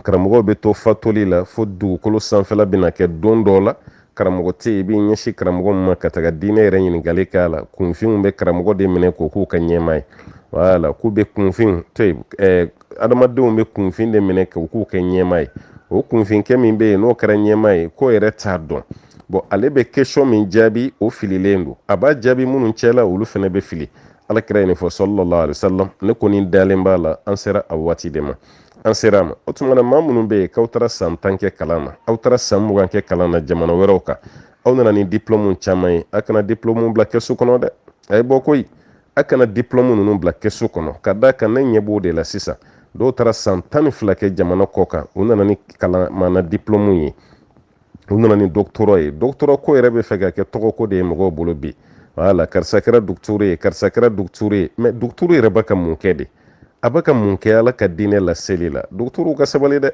karamɔgɔw bɛ to fatuli la fo dugukolo sanfɛla bɛna kɛ don dɔ la karamɔgɔ tɛ yen i b'i ɲɛsin karamɔgɔ ma ka taga diinɛ yɛrɛ ɲininkali k'a la kunfinw bɛ karamɔgɔ de minɛ k'o k'u ka ɲɛmaa ye wala k'u bɛ kunfin to yen ɛɛ adamadenw bɛ kunfin de minɛ k'o k'u ka ɲɛmaa ye o kunfinkɛ min bɛ yen n'o kɛra ɲɛmaa ye k'o yɛrɛ t'a dɔn bɔn ale bɛ kɛsiyɔn min jaabi o fililen don a b'a jaabi minnu cɛla olu fana bɛ fili alakira ye nin fɔ sallallahu alaihi wasallam ne kɔni dalen b'a la an sera a waati de ma an sera a ma o tuma na maa minnu bɛ yen k'aw taara san tan kɛ kalan na aw taara san mugan kɛ kalan na jamana wɛrɛw kan aw nana ni diplɔmu caman ye a kana diplɔmu bila kɛsu kɔnɔ dɛ a ye bɔ koyi a kana diplɔmu ninnu bila kɛsu kɔnɔ ka d'a kan ne ɲɛ b'o de la sisan dɔw taara san tan ni fila kɛ jamana kɔkan u nana ni kalan maana diplɔmu ye u nana ni doctorat ye doctorat ko yɛrɛ bɛ fɛ ka kɛ tɔgɔko de ye mɔgɔw bolo bi wala karisa kɛra duguturu ye karisa kɛra duguturu ye mɛ duguturu yɛrɛ bɛ ka mun kɛ de a bɛ ka mun kɛ ala ka diinɛ laseli la dɔgɔtɔrɔw ka sabali dɛ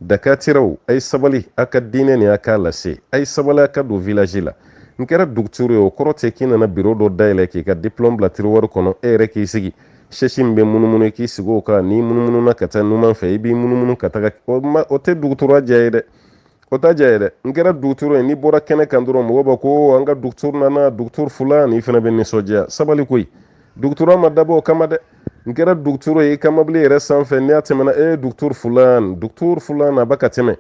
dakatiraw a ye sabali a ka diinɛ nin a k'a lase a ye sabali a ka don vilaji la n kɛra duguturu ye o kɔrɔ tɛ k'i nana biro dɔ dayɛlɛ k'i ka diplɔm bila tiriwari kɔnɔ e yɛrɛ k'i sigi sɛsi min bɛ munumunu k'i sigi o kan n'i munumununa ka taa numan fɛ i b'i munumunu ka taga o tɛ dɔgɔtɔrɔya diya ye dɛ o t'a diya ye dɛ n kɛra dugutoro ye n'i bɔra kɛnɛ kan dɔrɔn mɔgɔw b'a ko an ka dugutoro nana dugutoro fulan i fana bɛ nisɔndiya sabali koyi doctorat ma dabɔ o kama dɛ n kɛra dugutoro ye i ka mobili yɛrɛ sanfɛ n'i y'a tɛmɛna e dugutoro fulan dugutoro fulan a bɛ ka tɛmɛ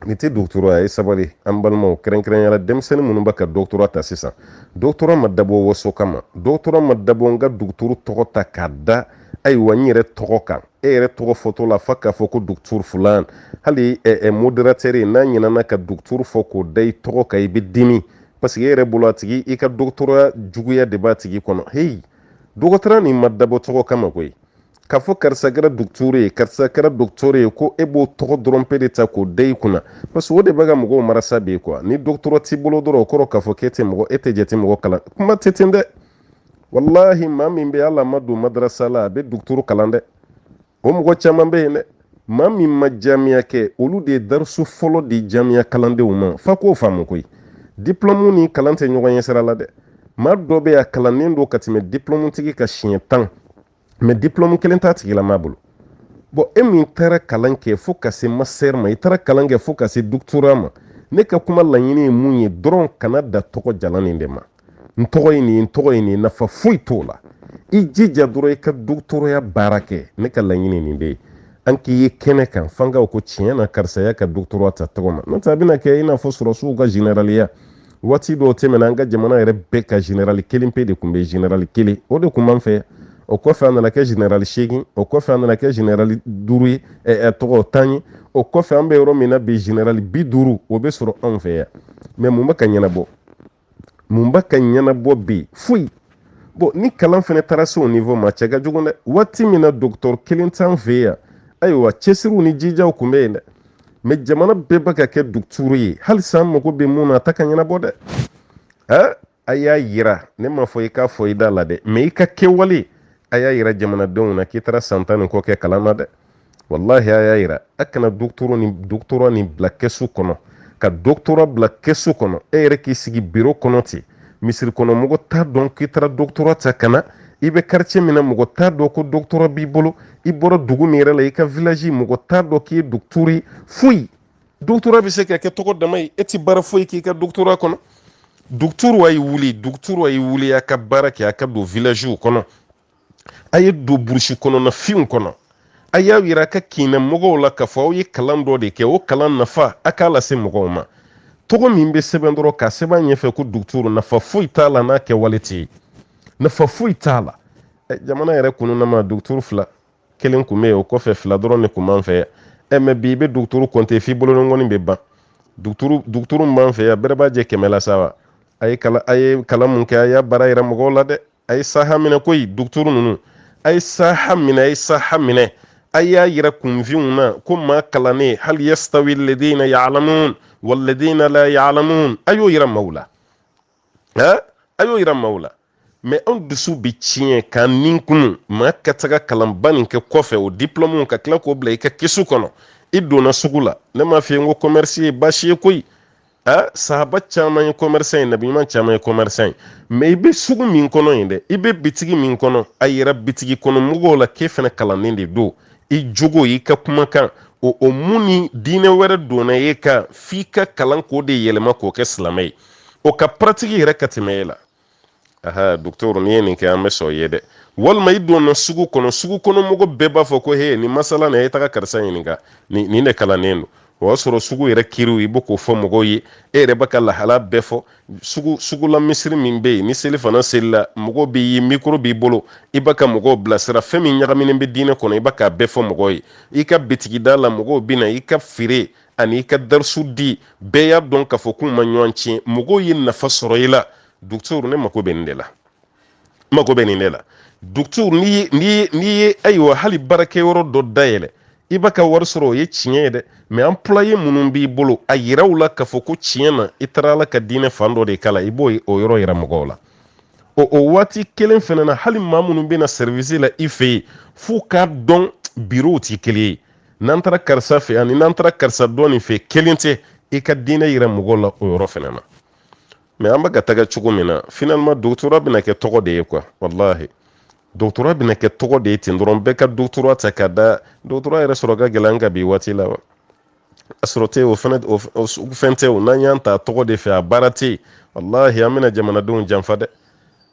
nin tɛ doctorat ye sabali an balimaw kɛrɛnkɛrɛnya la denmisɛnnin minnu bɛ ka doctorat ta sisan doctorat ma dabɔ waso kama doctorat ma dabɔ n ka dugutoro tɔgɔ ta k'a da ayiwa n yɛrɛ tɔgɔ kan e yɛrɛ tɔgɔ fɔtɔ la f'a k'a fɔ ko dugutur fulan hali modérateur n'a ɲinana ka dugutur fɔ k'o da i tɔgɔ kan i bɛ dimi parce que e yɛrɛ bolo a tigi i ka dɔgɔtɔrɔya juguya de b'a tigi kɔnɔ heyi doctorat nin ma dabɔ tɔgɔ kama koyi k'a fɔ karisa kɛra dugutur ye karisa kɛra dɔgɔtɔrɔ ye ko e b'o tɔgɔ dɔrɔn pe de ta k'o da i kunna parce que o de bɛ ka mɔgɔw marasa bi kuwa ni doctorat t'i bolo dɔrɔn o kɔrɔ k'a fɔ k'e tɛ mɔgɔ e tɛ jate mɔgɔ kalan kuma tɛ ten dɛ walahi maa min bɛ ala ma don madarasa la a bɛ duguturu kalan dɛ o mɔgɔ caman bɛ yen dɛ maa min ma jamiya kɛ olu de ye darisu fɔlɔ di jamiya kalandenw ma f'a k'o faamu koyi diplɔmu ni kalan tɛ ɲɔgɔn ɲɛ sira la dɛ maa dɔ bɛ a kalannen don ka tɛmɛ diplɔmutigi kan siɲɛ tan mɛ diplɔmu kelen t'a tigilamaa bolo bɔn e min taara kalan kɛ fo ka se master ma i taara kalan kɛ fo ka se doctorat ma ne ka kuma laɲini ye mun ye dɔrɔn kana dan tɔgɔ jalan nin de ma n tɔgɔ ye nin n tɔgɔ ye nin nafa foyi t'o la i jija dɔrɔn i ka dɔgɔtɔrɔya baara kɛ ne ka laɲini nin de ye an k'i ye kɛnɛ kan f'an k'a ko tiɲɛ na karisa y'a ka dɔgɔtɔrɔya ta tɔgɔ ma n'o tɛ a bɛna kɛ i n'a fɔ sɔrɔsiw ka generaliya waati dɔw tɛmɛna an ka jamana yɛrɛ bɛɛ ka generali kelen pe de tun bɛ generali kelen o de tun b'an fɛ o kɔfɛ a nana kɛ generali seegin o kɔfɛ a nana kɛ generali duuru ye tɔgɔ tan ye o kɔfɛ an bɛ yɔrɔ min na bi generali bi duuru o bɛ sɔrɔ anw fɛ yan mɛ mun bɛ ka ɲɛnabɔ mun bɛ ka ɲɛnabɔ bi foyi bɔn ni kalan fana taara se o nivo ma cɛ ka jugu dɛ waati min na dɔgɔtɔrɔ kelen t'an fɛ yan ayiwa cɛsiriw ni jijaw tun bɛ yen dɛ mɛ jamana bɛɛ bɛ ka kɛ duguturu ye halisa an mago bɛ mun na a tɛ ka ɲɛnabɔ dɛ ɛ a y'a yira ne m'a fɔ i k'a fɔ i da la dɛ mɛ i ka kɛwale a y'a yira jamanadenw na k'i taara san tan ni kɔ kɛ kalan na dɛ walahi a y'a yira a kana doctorat nin doctorat nin bila kɛsu kɔnɔ ka doctorat bila kɛsu kɔnɔ e yɛrɛ k'i sigi biro kɔnɔ ten misiri kɔnɔ mɔgɔ t'a dɔn k'i taara doctorat ta ka na i bɛ quartier min na mɔgɔ t'a dɔn ko doctorat b'i bolo i bɔra dugu min yɛrɛ la i ka vilaji mɔgɔ t'a dɔn k'i ye dɔgɔtɔrɔ ye foyi doctorat bɛ se ka kɛ tɔgɔ dama ye e tɛ baara foyi k'i ka doctorat kɔnɔ dɔgɔtɔrɔ a y'i wuli dɔgɔtɔrɔ a y'i wuli a ka baara kɛ a ka don vilajiw kɔnɔ a ye don burusi kɔnɔna finw kɔnɔ a y'a yira a ka kin na mɔgɔw la k'a fɔ aw ye kalan dɔ de kɛ o kalan nafa a k'a lase mɔgɔw ma tɔgɔ min bɛ sɛbɛn dɔrɔn ka sɛbɛn ɲɛfɛ ko duguturu nafa foyi t'a la n'a kɛwale tɛ yen nafa foyi t'a la eh, jamana yɛrɛ kɔnɔna ma duguturu fila kelen tun bɛ yen o kɔfɛ fila dɔrɔn de tun b'an fɛ yan eh, mɛ bi i bɛ duguturu kɔnte f'i bolonɔngɔni bɛ ban duguturu min b'an fɛ yan bɛrɛ b'a jɛ kɛmɛ la sa wa a ye kalan mun kɛ a y'a baara yira mɔgɔw la dɛ a ye saha minɛ koyi duguturu ninnu a ye saha minɛ a ye saha minɛ a y'a yira kunfinw na ko maa kalannen hal yastawi ladina ya'lamun walladina la ya'lamun a y'o yira maaw la a y'o yira maaw la mɛ anw dusu bɛ tiɲɛ k'an nin kumu maa ka taga kalanba nin kɛ kɔfɛ o diplɔmuw ka tila k'o bila i ka kɛsu kɔnɔ i donna sugu la ne m'a f'i ye n ko commerce ye baasi ye koyi a sahaba caman ye commerçant ye nabi ɲuman caman ye commerçant ye mais i bɛ sugu min kɔnɔ yen dɛ i bɛ bitigi min kɔnɔ a yira bitigi kɔnɔ mɔgɔw la k'e fɛnɛ kalannen de don i jogo i ka kumakan o o mun ni diinɛ wɛrɛ donna e kan f'i ka kalan k'o de yɛlɛma k'o kɛ silamɛ ye o ka pratique yɛrɛ ka tɛmɛ e la aha docteur n'i ye nin kɛ an bɛ sɔn i ye dɛ walima i donna sugu kɔnɔ sugu kɔnɔ mɔgɔ bɛɛ b'a fɔ ko he ni masala na a ye taga karisa ɲininka ni nin de kalannen don o y'a sɔrɔ sugu yɛrɛ kiriw i bɛ k'o fɔ mɔgɔw ye e yɛrɛ bɛ ka lahala bɛɛ fɔ sugu sugula misiri min bɛ yen ni seli fana selila mɔgɔw b'i ye mikoro b'i bolo i bɛ ka mɔgɔw bilasira fɛn min ɲagaminen bɛ diinɛ kɔnɔ i bɛ k'a bɛɛ fɔ mɔgɔw ye i ka bitigida la mɔgɔw bɛ na i ka feere an'i ka darisu di bɛɛ y'a dɔn k'a fɔ k'u ma ɲɔgɔn tiɲɛ mɔgɔw ye nafa sɔrɔ i la dɔgɔtɔrɔ ne mako bɛ nin de la mako bɛ nin de la dɔgɔtɔrɔ n'i ye n'i ye n'i ye ayiwa hali baarakɛyɔrɔ dɔ dayɛlɛ i b'a ka wari sɔrɔ o ye tiɲɛ ye dɛ mɛ employé minnu b'i bolo a yira u la k'a fɔ ko tiɲɛ na i taara ala ka diinɛ fan dɔ de kalan i b'o o yɔrɔ yira mɔgɔw la o o waati kelen fana na hali maa minnu bɛ na sɛrivisi la i fɛ yen f'u k'a dɔn biro tɛ kelen ye n'an taara karisa fɛ ani n'an taara karisa dɔ nin fɛ kelen tɛ i ka diinɛ yira mɔgɔw la o yɔrɔ fana na mɛ an bɛ ka taga cogo min na finalement doctorat bɛna kɛ tɔgɔ de ye quoi walahi doctorat bɛna kɛ tɔgɔ de ye ten dɔrɔn bɛɛ ka doctorat ta ka da doctorat yɛrɛ sɔrɔ ka gɛlɛn ka bi waati la wa a sɔrɔ tɛ o fɛnɛ o fɛn tɛ o n'an y'a ta tɔgɔ de fɛ a baara tɛ yen walahi an bɛna jamanadenw janfa dɛ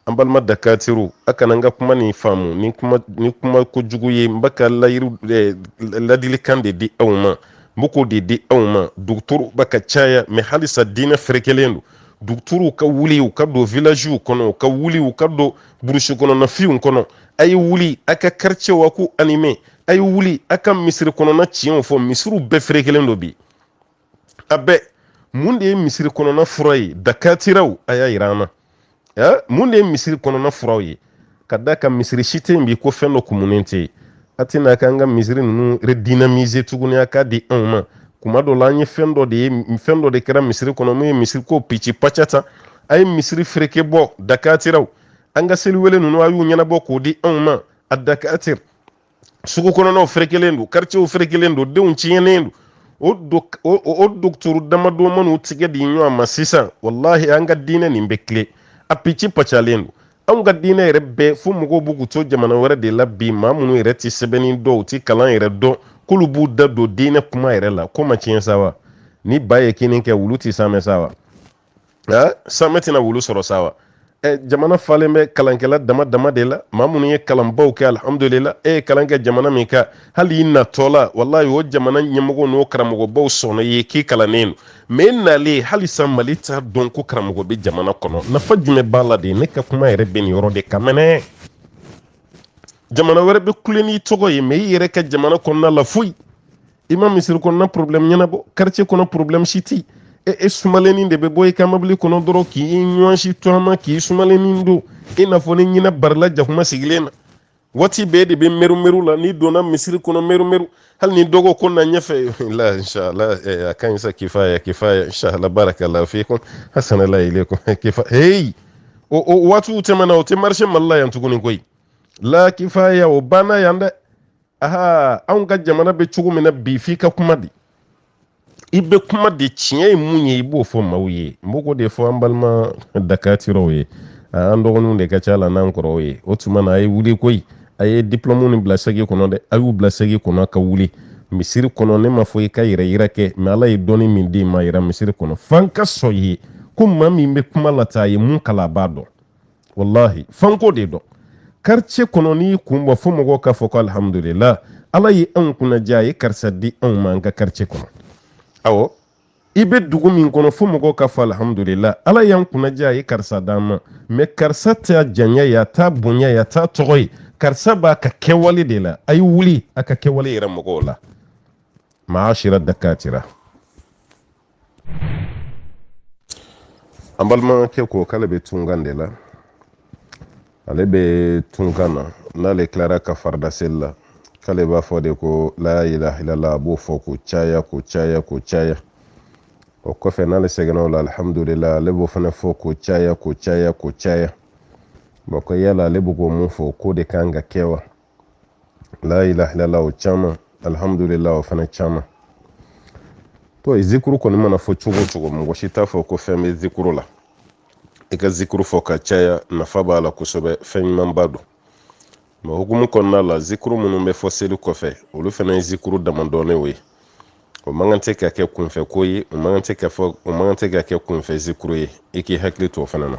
an balima dakatiraw a kana n ka kuma nin faamu ni kuma ni kuma ko jugu ye n bɛ ka layiru eh, ladilikan de di aw ma n bɛ k'o de di aw ma duguturu bɛ ka caya mɛ halisa diinɛ ferekelen don duguturu ka wuli u ka don vilaziw kɔnɔ u ka wuli u ka don burusi kɔnɔna finw kɔnɔ a ye wuli a ka karicɛw a k'u anime a ye wuli a ka misiri kɔnɔna tiɲɛw fɔ misiriw bɛɛ ferekelen don bi a bɛɛ mun de ye misiri kɔnɔna fura ye dakatiraw a y'a yira an na eh, mun de ye misiri kɔnɔna furaw ye ka d'a kan misiri si tɛ yen bi ko fɛn dɔ kumunen tɛ yen a tɛ na k'an ka misiri ninnu redynamiser tuguni a k'a di anw ma kuma dɔ la an ye fɛn dɔ de ye fɛn dɔ de kɛra misiri kɔnɔ mun ye misiri ko pici paca tan a ye misiri fereke bɔ dakatiraw an ka seliwele ninnu a y'u ɲɛnabɔ k'o di anw ma a dakatira sugu kɔnɔnaw ferekelen don karicɛw ferekelen don denw tiɲɛnen don o dɔgɔtɔrɔ damadɔ man'u tigɛ di ɲɔgɔn ma sisan walahi an ka diinɛ nin bɛ tilen a pici pacalen don anw ka diinɛ yɛrɛ bɛɛ fo mɔgɔw b'u k'u to jamana wɛrɛ de la bi maa minnu yɛrɛ tɛ sɛbɛnni dɔn u tɛ kalan yɛrɛ dɔn k'olu b'u da don diinɛ kuma yɛrɛ la ko ma tiɲɛ sa wa ni ba ye kinni kɛ wulu tɛ saamɛ sa wa saamɛ tɛna wulu sɔrɔ sa wa eh, jamana falen bɛ kalankɛla dama dama de la maa minnu ye kalanbaw kɛ alhamdulila e ye kalan kɛ jamana min kan hali i natɔla walayi o jamana ɲɛmɔgɔ n'o karamɔgɔbaw sɔnna ye k'i kalannen don mɛ e nalen halisa mali t'a dɔn ko karamɔgɔ bɛ jamana kɔnɔ nafa jumɛn b'a la de ne ka kuma yɛrɛ bɛ nin yɔrɔ de kan mɛnɛ jamana wɛrɛ bɛ kule n'i tɔgɔ ye mɛ i yɛrɛ ka jamana kɔnɔna la foyi i ma misiri kɔnɔna problème ɲɛnabɔ quartier kɔnɔ problème si tɛ e e sumalennin de bɛ bɔ i ka mobili kɔnɔ dɔrɔn k'i ɲɔgɔn si tɔɔma k'i sumalennin don i n'a fɔ ni ɲinɛ barila jakuma sigilen na waati bɛɛ de bɛ mɛrumɛru la n'i donna misiri kɔnɔ mɛrumɛru hali ni dɔgɔ ko na ɲɛfɛ la inshallah a ka ɲi sa kifaya kifaya inshallah barakallahu fikum ahsanallah ilaykum kifa hey o o waatiw tɛmɛna o tɛ marché mali la yan tuguni koyi la kifaya o banna yan dɛ aa anw ka jamana bɛ cogo min na bi f'i ka kuma di i bɛ kuma di tiɲɛ ye mun ye i b'o fɔ maaw ye n b'o de fɔ an balima dakatiraw ye an dɔgɔninw de ka ca la n'an kɔrɔw ye o tuma na a ye wuli koyi a ye diplɔmu nin bila saki kɔnɔ dɛ a y'u bila saki kɔnɔ ka wuli misiri kɔnɔ ne m'a fɔ i ka yɛrɛ yira kɛ mɛ ala ye dɔnni min d'i ma yira misiri kɔnɔ f'an ka sɔn ye ko maa min bɛ kuma la tan a ye mun kalan a b'a dɔn walahi f'an k'o de dɔn karicɛ kɔnɔ n'i kun bɔ fo mɔgɔw k'a fɔ ko alihamudulila ala ye anw kunna diya a ye karisa di anw ma an ka karicɛ kɔnɔ awɔ i bɛ dugu min kɔnɔ fo mɔgɔw k'a fɔ alihamudulila ala y'an kunna diya a ye karisa d'an ma mɛ karisa t'a janya ye a t'a bonya ye a t'a tɔgɔ ye karisa b'a ka kɛwale de la a ye wuli a ka kɛwale yira mɔgɔw la maashira dakatira an balimakɛ ko k'ale bɛ tunkan de la ale bɛ tunkan na n'ale tilara ka farida seli la k'ale b'a fɔ de ko la ilaha illallah a b'o fɔ k'o caya k'o caya k'o caya o kɔfɛ n'ale sɛgɛnna o la alihamudulila ale b'o fana fɔ k'o caya k'o caya k'o caya bɔn ko yala ale bɛ ko mun fɔ k'o de kan ka kɛ wa la ilaha illallah o caman alhamdulillah o fana caman to ye zikuru kɔni mana fɔ cogo cogo mɔgɔ si t'a fɔ ko fɛn bɛ zikuru la i ka zikuru fɔ ka caya nafa b'a la kosɛbɛ fɛn ɲumanba don mɛ hukumu kɔnɔna la zikuru minnu bɛ fɔ seli kɔfɛ olu fana ye zikuru dama dɔnnenw ye o man kan tɛ ka kɛ kunfɛ ko ye o man kan tɛ ka kɛ kunfɛ zikuru ye i k'i hakili to o fana na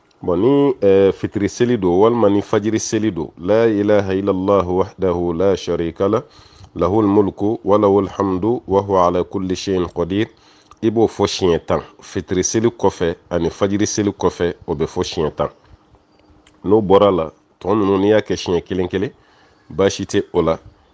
bon ni eh, fitiri seli don walima ni fajiri seli don la ilaha illallah wahdahu la sharika lah lahul mulku wa lahul hamdu wa huwa ala kulli shay'in qadir i b'o fɔ siɲɛ tan fitiri seli kɔfɛ ani fajiri seli kɔfɛ o bɛ fɔ siɲɛ tan n'o bɔra a la tɔ ninnu n'i y'a kɛ siɲɛ kelen kelen baasi tɛ o la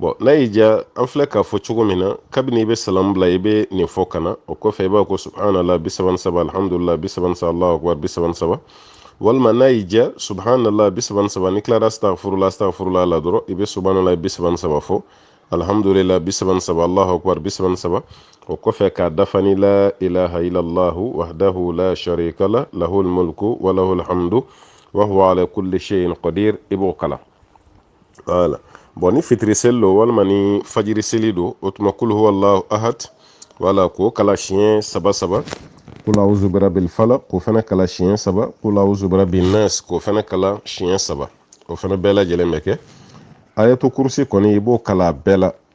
bɔn n'a y'i diya an filɛ k'a fɔ cogo min na kabini i bɛ salamu bila i bɛ nin fɔ ka na o kɔfɛ i b'a ko subhanala bi saba ni saba alhamdulila bi saba ni saba alahu akubar bi saba ni saba walima n'a y'i diya subhanala bi saba ni saba n'i tilara astagfurula astagfurula la dɔrɔn i bɛ subhanala bi saba ni saba fɔ alhamdulila bi saba ni saba alahu akubar bi saba ni saba o kɔfɛ k'a dafa ni la ilaha illallahu wahdahu la sharika lah lahul mulku wa lahul hamdu wa huwa ala kulli shay'in qadir i b'o kalan wala bɔn ni fitiri seli don walima ni fajiri seli don o tuma kulu huwallahu ahad wala k'o kalan siɲɛ saba saba kulu auzu birabil falaq k'o fana kalan siɲɛ saba kulu auzu birabin nas k'o fana kalan siɲɛ saba o fana bɛɛ lajɛlen bɛ kɛ ayatu kursi kɔni i b'o kalan bɛɛ la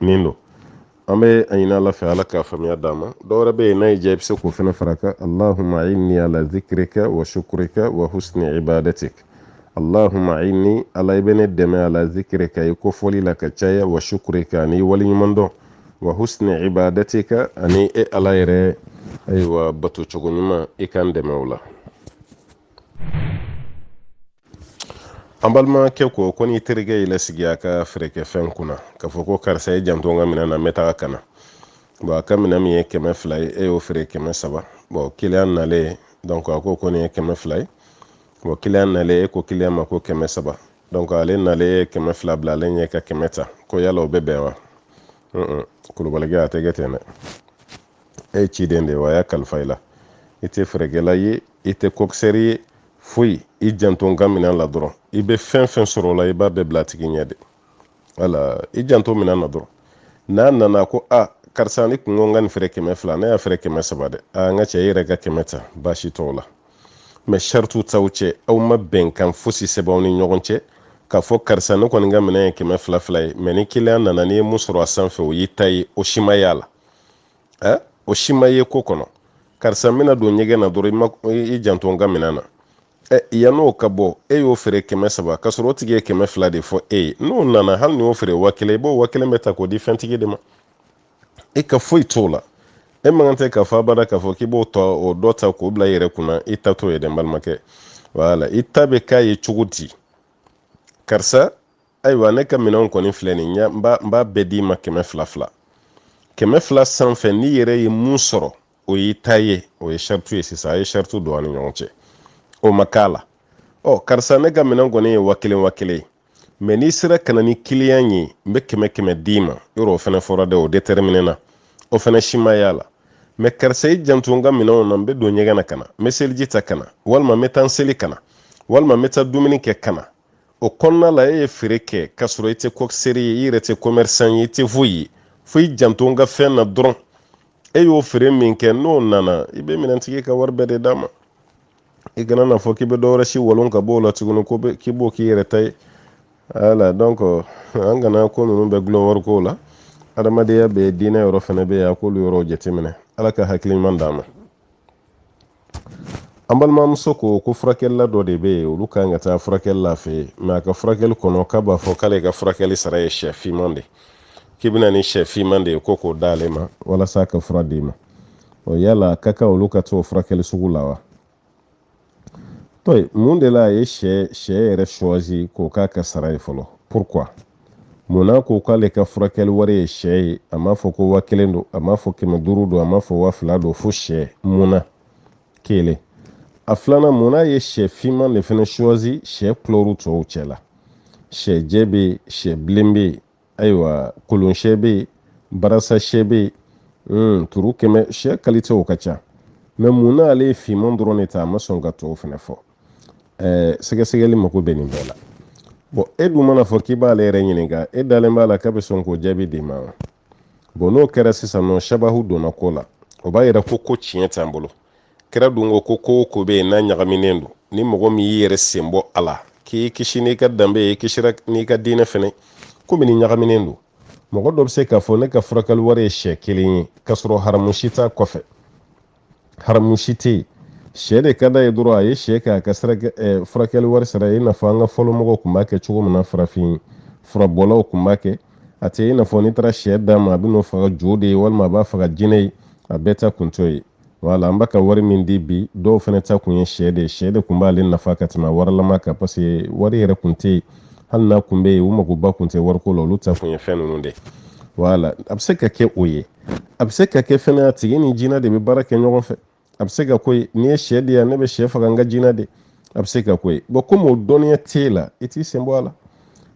nin don an bɛ a ɲini ala fɛ ala k'a faamuya d'an ma dɔ wɛrɛ bɛ yen n'a y'i diya i bɛ se k'o fana fara a kan allahumma inni ala zikrika wa shukrika wa husni ibadatik allahumma inni ala i bɛ ne dɛmɛ ala zikrika i kofɔli la ka caya wa shukrika ani i waleɲumandɔn wa husni ibadatika ani e ala yɛrɛ ayiwa bato cogo ɲuman i ka n dɛmɛ o la an balimakɛ ko ko n'i terikɛ y'i lasigi a ka feerekɛfɛn kunna k'a fɔ ko karisa i janto n ka minɛn na n bɛ taa ka na bɔn a ka minɛn min ye kɛmɛ fila ye e y'o feere kɛmɛ saba bɔn kiliyan nalen donc a ko ko nin ye kɛmɛ fila ye bɔn kiliyan nalen e ko kiliyan ma ko kɛmɛ saba donc ale nalen ye kɛmɛ fila bila ale ɲɛ ka kɛmɛ ta ko yala o bɛ bɛn wa kulubalikɛ a tɛ kɛ ten dɛ e ye ciden de ye wa a y'a kalifa i la i tɛ feerekɛla ye i tɛ kokisɛri ye foyi i janto n ka minɛn la dɔrɔn i bɛ fɛn fɛn sɔrɔ o la i b'a bɛɛ bil'a tigi ɲɛ de wala i janto minɛn na dɔrɔn n'a nana ko a karisa n'i kun ko n ka nin feere kɛmɛ fila ne y'a feere kɛmɛ saba dɛ a n ka cɛ i yɛrɛ ka kɛmɛ ta baasi t'o la mɛ saritu t'aw cɛ aw ma bɛnkan fosi sɛbɛn aw ni ɲɔgɔn cɛ k'a fɔ karisa ne kɔni ka minɛn ye kɛmɛ fila fila ye mɛ ni kiliyan nana n'i ye mun sɔrɔ a sanfɛ o y'i ta ye o si ma y'a la ɛ o si ma ye ko kɔnɔ karisa n bɛna don ɲɛgɛn na dɔrɔn i janto n ka minɛn na ɛ yann'o ka bɔ e y'o feere kɛmɛ saba k'a sɔrɔ o tigi ye kɛmɛ fila de fɔ e ye n'o nana hali n'i y'o feere wa kelen i b'o wa kelen bɛɛ ta k'o di fɛntigi de ma e ka foyi t'o la e man kan tɛ k'a fɔ abada k'a fɔ k'i b'o ta o dɔ ta k'o bila i yɛrɛ kunna i ta t'o ye dɛ n balimakɛ wala i ta bɛ k'a ye cogo di karisa ayiwa ne ka minɛnw kɔni filɛ nin ye n b'a bɛɛ d'i ma kɛmɛ fila fila kɛmɛ fila sanfɛ n'i yɛrɛ ye mun sɔrɔ o y'i ta ye o ye saritu ye sisan a ye saritu don an ni ɲɔgɔn cɛ o ma k'a la ɔ karisa ne ka minɛn kɔni ye wa kelen wa kelen ye mɛ n'i sera ka na ni kiliyan ye n bɛ kɛmɛ kɛmɛ d'i ma yɔrɔ o fana fɔra dɛ o dɛtɛrɛminɛna o fana si ma y'a la mɛ karisa i janto n ka minɛnw na n bɛ don ɲɛgɛn na ka na n bɛ seliji ta ka na walima n bɛ taa n seli ka na walima n bɛ taa dumuni kɛ ka na o kɔnɔna la e ye feere kɛ k'a sɔrɔ i tɛ kɔkiseri ye i yɛrɛ tɛ kɔmɛrisan ye i tɛ foyi ye fo i janto n ka fɛn na dɔrɔn e y'o feere min kɛ n'o nana i bɛ minɛntigi ka wari bɛɛ de d'a ma i kana n'a fɔ k'i bɛ dɔwɛrɛ si walon ka b'o la tuguni ko k'i b'o k'i yɛrɛ ta ye wala donc an kana ko ninnu bɛɛ dulon wari ko la adamadenya bɛ diinɛ yɔrɔ fana bɛ yen an k'olu yɔrɔw jateminɛ ala ka hakili ɲuman d'an ma an balimamuso ko ko furakɛlila dɔ de bɛ yen olu ka kan ka taa furakɛli la a fɛ mɛ a ka furakɛli kɔnɔ k'a b'a fɔ k'ale ka furakɛli sara ye sɛ fiman de k'i bɛ na ni sɛ fiman de ye ko k'o d'ale ma walasa a ka fura d'i ma o yala a ka kan olu ka t'o furakɛli sugu la wa to mun de la a ye sɛ sɛ yɛrɛ suwazi k'o k'a ka sara ye fɔlɔ pourquoi mun na ko k'ale ka furakɛli wari ye sɛ ye a m'a fɔ ko wa kelen don a m'a fɔ kɛmɛ duuru don a m'a fɔ wa fila don fo sɛ mun na kelen a filanan mun na a ye sɛ finman de fana suwazi sɛ kulɔru tɔw cɛ la sɛ jɛ bɛ yen sɛ bilen bɛ yen ayiwa kolon sɛ bɛ yen barasa sɛ bɛ yen hmm, turu kɛmɛ sɛ kalitew ka ca mɛ mun n'ale ye finman dɔrɔn de ta a ma sɔn ka tɔw fana fɔ ɛɛ sɛgɛsɛgɛli mako bɛ nin bɛɛ la bɔn e dun man'a fɔ k'i b'ale yɛrɛ ɲininka e dalen b'a la k'a bɛ sɔn k'o jaabi d'i ma wa bɔn n'o kɛra sisan nɔ sabahu donna ko la o b'a yira ko ko tiɲɛ t'an bolo kira dun ko ko ko o ko bɛ yen n'a ɲagaminen don ni mɔgɔ min y'i yɛrɛ sen bɔ a la k'i kisi n'i ka danbe ye kisira n'i ka diinɛ fɛnɛ komi ni ɲagaminen don mɔgɔ dɔ bɛ se k'a fɔ ne ka furakɛli wari ye sɛ kelen ye k'a sɔrɔ haramu si t'a kɔfɛ haramu si tɛ yen sɛ de ka d'a ye dɔrɔn a ye sɛ kɛ a ka eh, furakɛli wari sara ye i n'a fɔ an ka fɔlɔ mɔgɔw tun b'a kɛ cogo min na farafin furabɔlaw tun b'a kɛ a tɛ i n'a fɔ n'i taara sɛ d'a ma a bɛ n'o faga jo de ye walima a b'a faga jinɛ ye a bɛɛ ta kun t'o ye wala an bɛ ka wari min di bi dɔw fana ta kun ye sɛ de ye sɛ de kun b'ale nafa ka tɛmɛ warilama kan parce que wari yɛrɛ kun tɛ yen hali n'a kun bɛ yen u magoba kun tɛ wariko la olu ta kun ye fɛn ninnu de wala a bɛ se ka kɛ o ye a bɛ se ka kɛ fɛnɛ a tigi ni jinɛ de bɛ baara kɛ ɲɔgɔn fɛ a bɛ se ka k'o ye n'i ye sɛ di yan ne bɛ sɛ faga n ka jinɛ de a bɛ se ka k'o ye bon komi o dɔnniya t'e la i t'i sen bɔ a la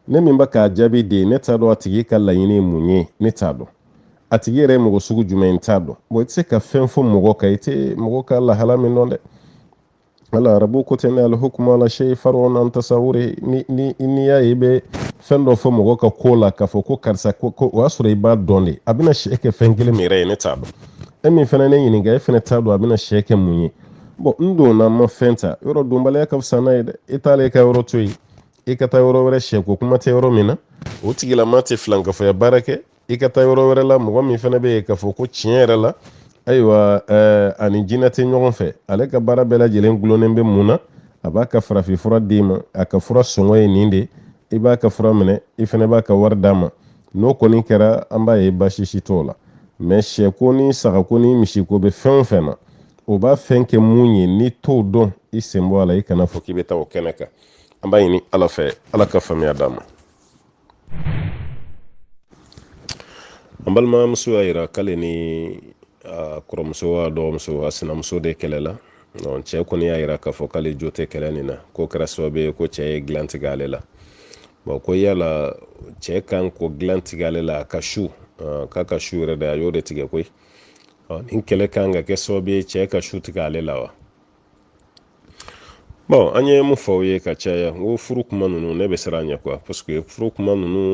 ne min bɛ k'a jaabi de ye ne t'a dɔn a tigi ka laɲini ye mun ye ne t'a dɔn a tigi yɛrɛ ye mɔgɔ sugu jumɛn i t'a dɔn bon i tɛ se ka fɛn fɔ mɔgɔ kan i tɛ mɔgɔ ka lahala min dɔn dɛ wala arabu ko tɛ ne alihukumu ala shay far'un an tasawuri ni ni n'i y'a ye i bɛ fɛn dɔ fɔ mɔgɔ ka ko la k'a fɔ ko karisa ko ko o y'a sɔrɔ i b'a dɔn de a bɛna sɛ kɛ fɛn kelen min yɛrɛ ye ne t'a dɔn e min fana ne ɲininka e fana t'a dɔn a bɛna sɛ kɛ mun ye bon n donna n ma fɛn ta yɔrɔ donbaliya ka fisa n'a ye dɛ e t'ale ka yɔrɔ to yen i ka taa yɔrɔ wɛrɛ sɛko kuma tɛ yɔrɔ min na o tigilama tɛ filankafoya baara kɛ i ka taa yɔrɔ wɛrɛ la mɔgɔ min fana bɛ yen k'a fɔ ko tiɲɛ yɛrɛ la ayiwa eh, a ni jinɛ tɛ ɲɔgɔn fɛ ale ka baara bɛɛ lajɛlen gulonnen bɛ mun na a b'a ka farafinfura d'i ma a ka fura sɔngɔ ye nin de i b'a ka fura minɛ i fana b'a ka wari d'a ma n'o kɔni kɛra an b'a ye baasi si t'o la mɛ sɛko ni sagako ni misiko bɛ fɛn o fɛn na o b'a fɛn kɛ mun ye n'i t'o dɔn i sen bɔ a la i kana fɔ k'i bɛ taa o kɛnɛ kan an b'a ɲini ala fɛ ala ka faamuya d'an ma an balimamuso y'a yira k'ale ni a kɔrɔmuso a dɔgɔmuso a sinamuso de kɛlɛla cɛ kɔni y'a yira k'a fɔ k'ale jo tɛ kɛlɛ nin na k'o kɛra sababu ye ko cɛ ye dilan tigɛ ale la bon ko yala cɛ kan k'o dilan tigɛ ale la a ka su k'a ka su yɛrɛ de a y'o de tigɛ koyi nin kɛlɛ kan ka kɛ sababu ye cɛ ka su tigɛ ale la wa bon an ye mun fɔ aw ye ka caya n ko furu kuma ninnu ne bɛ siran a ɲɛ quoi parce que furu kuma ninnu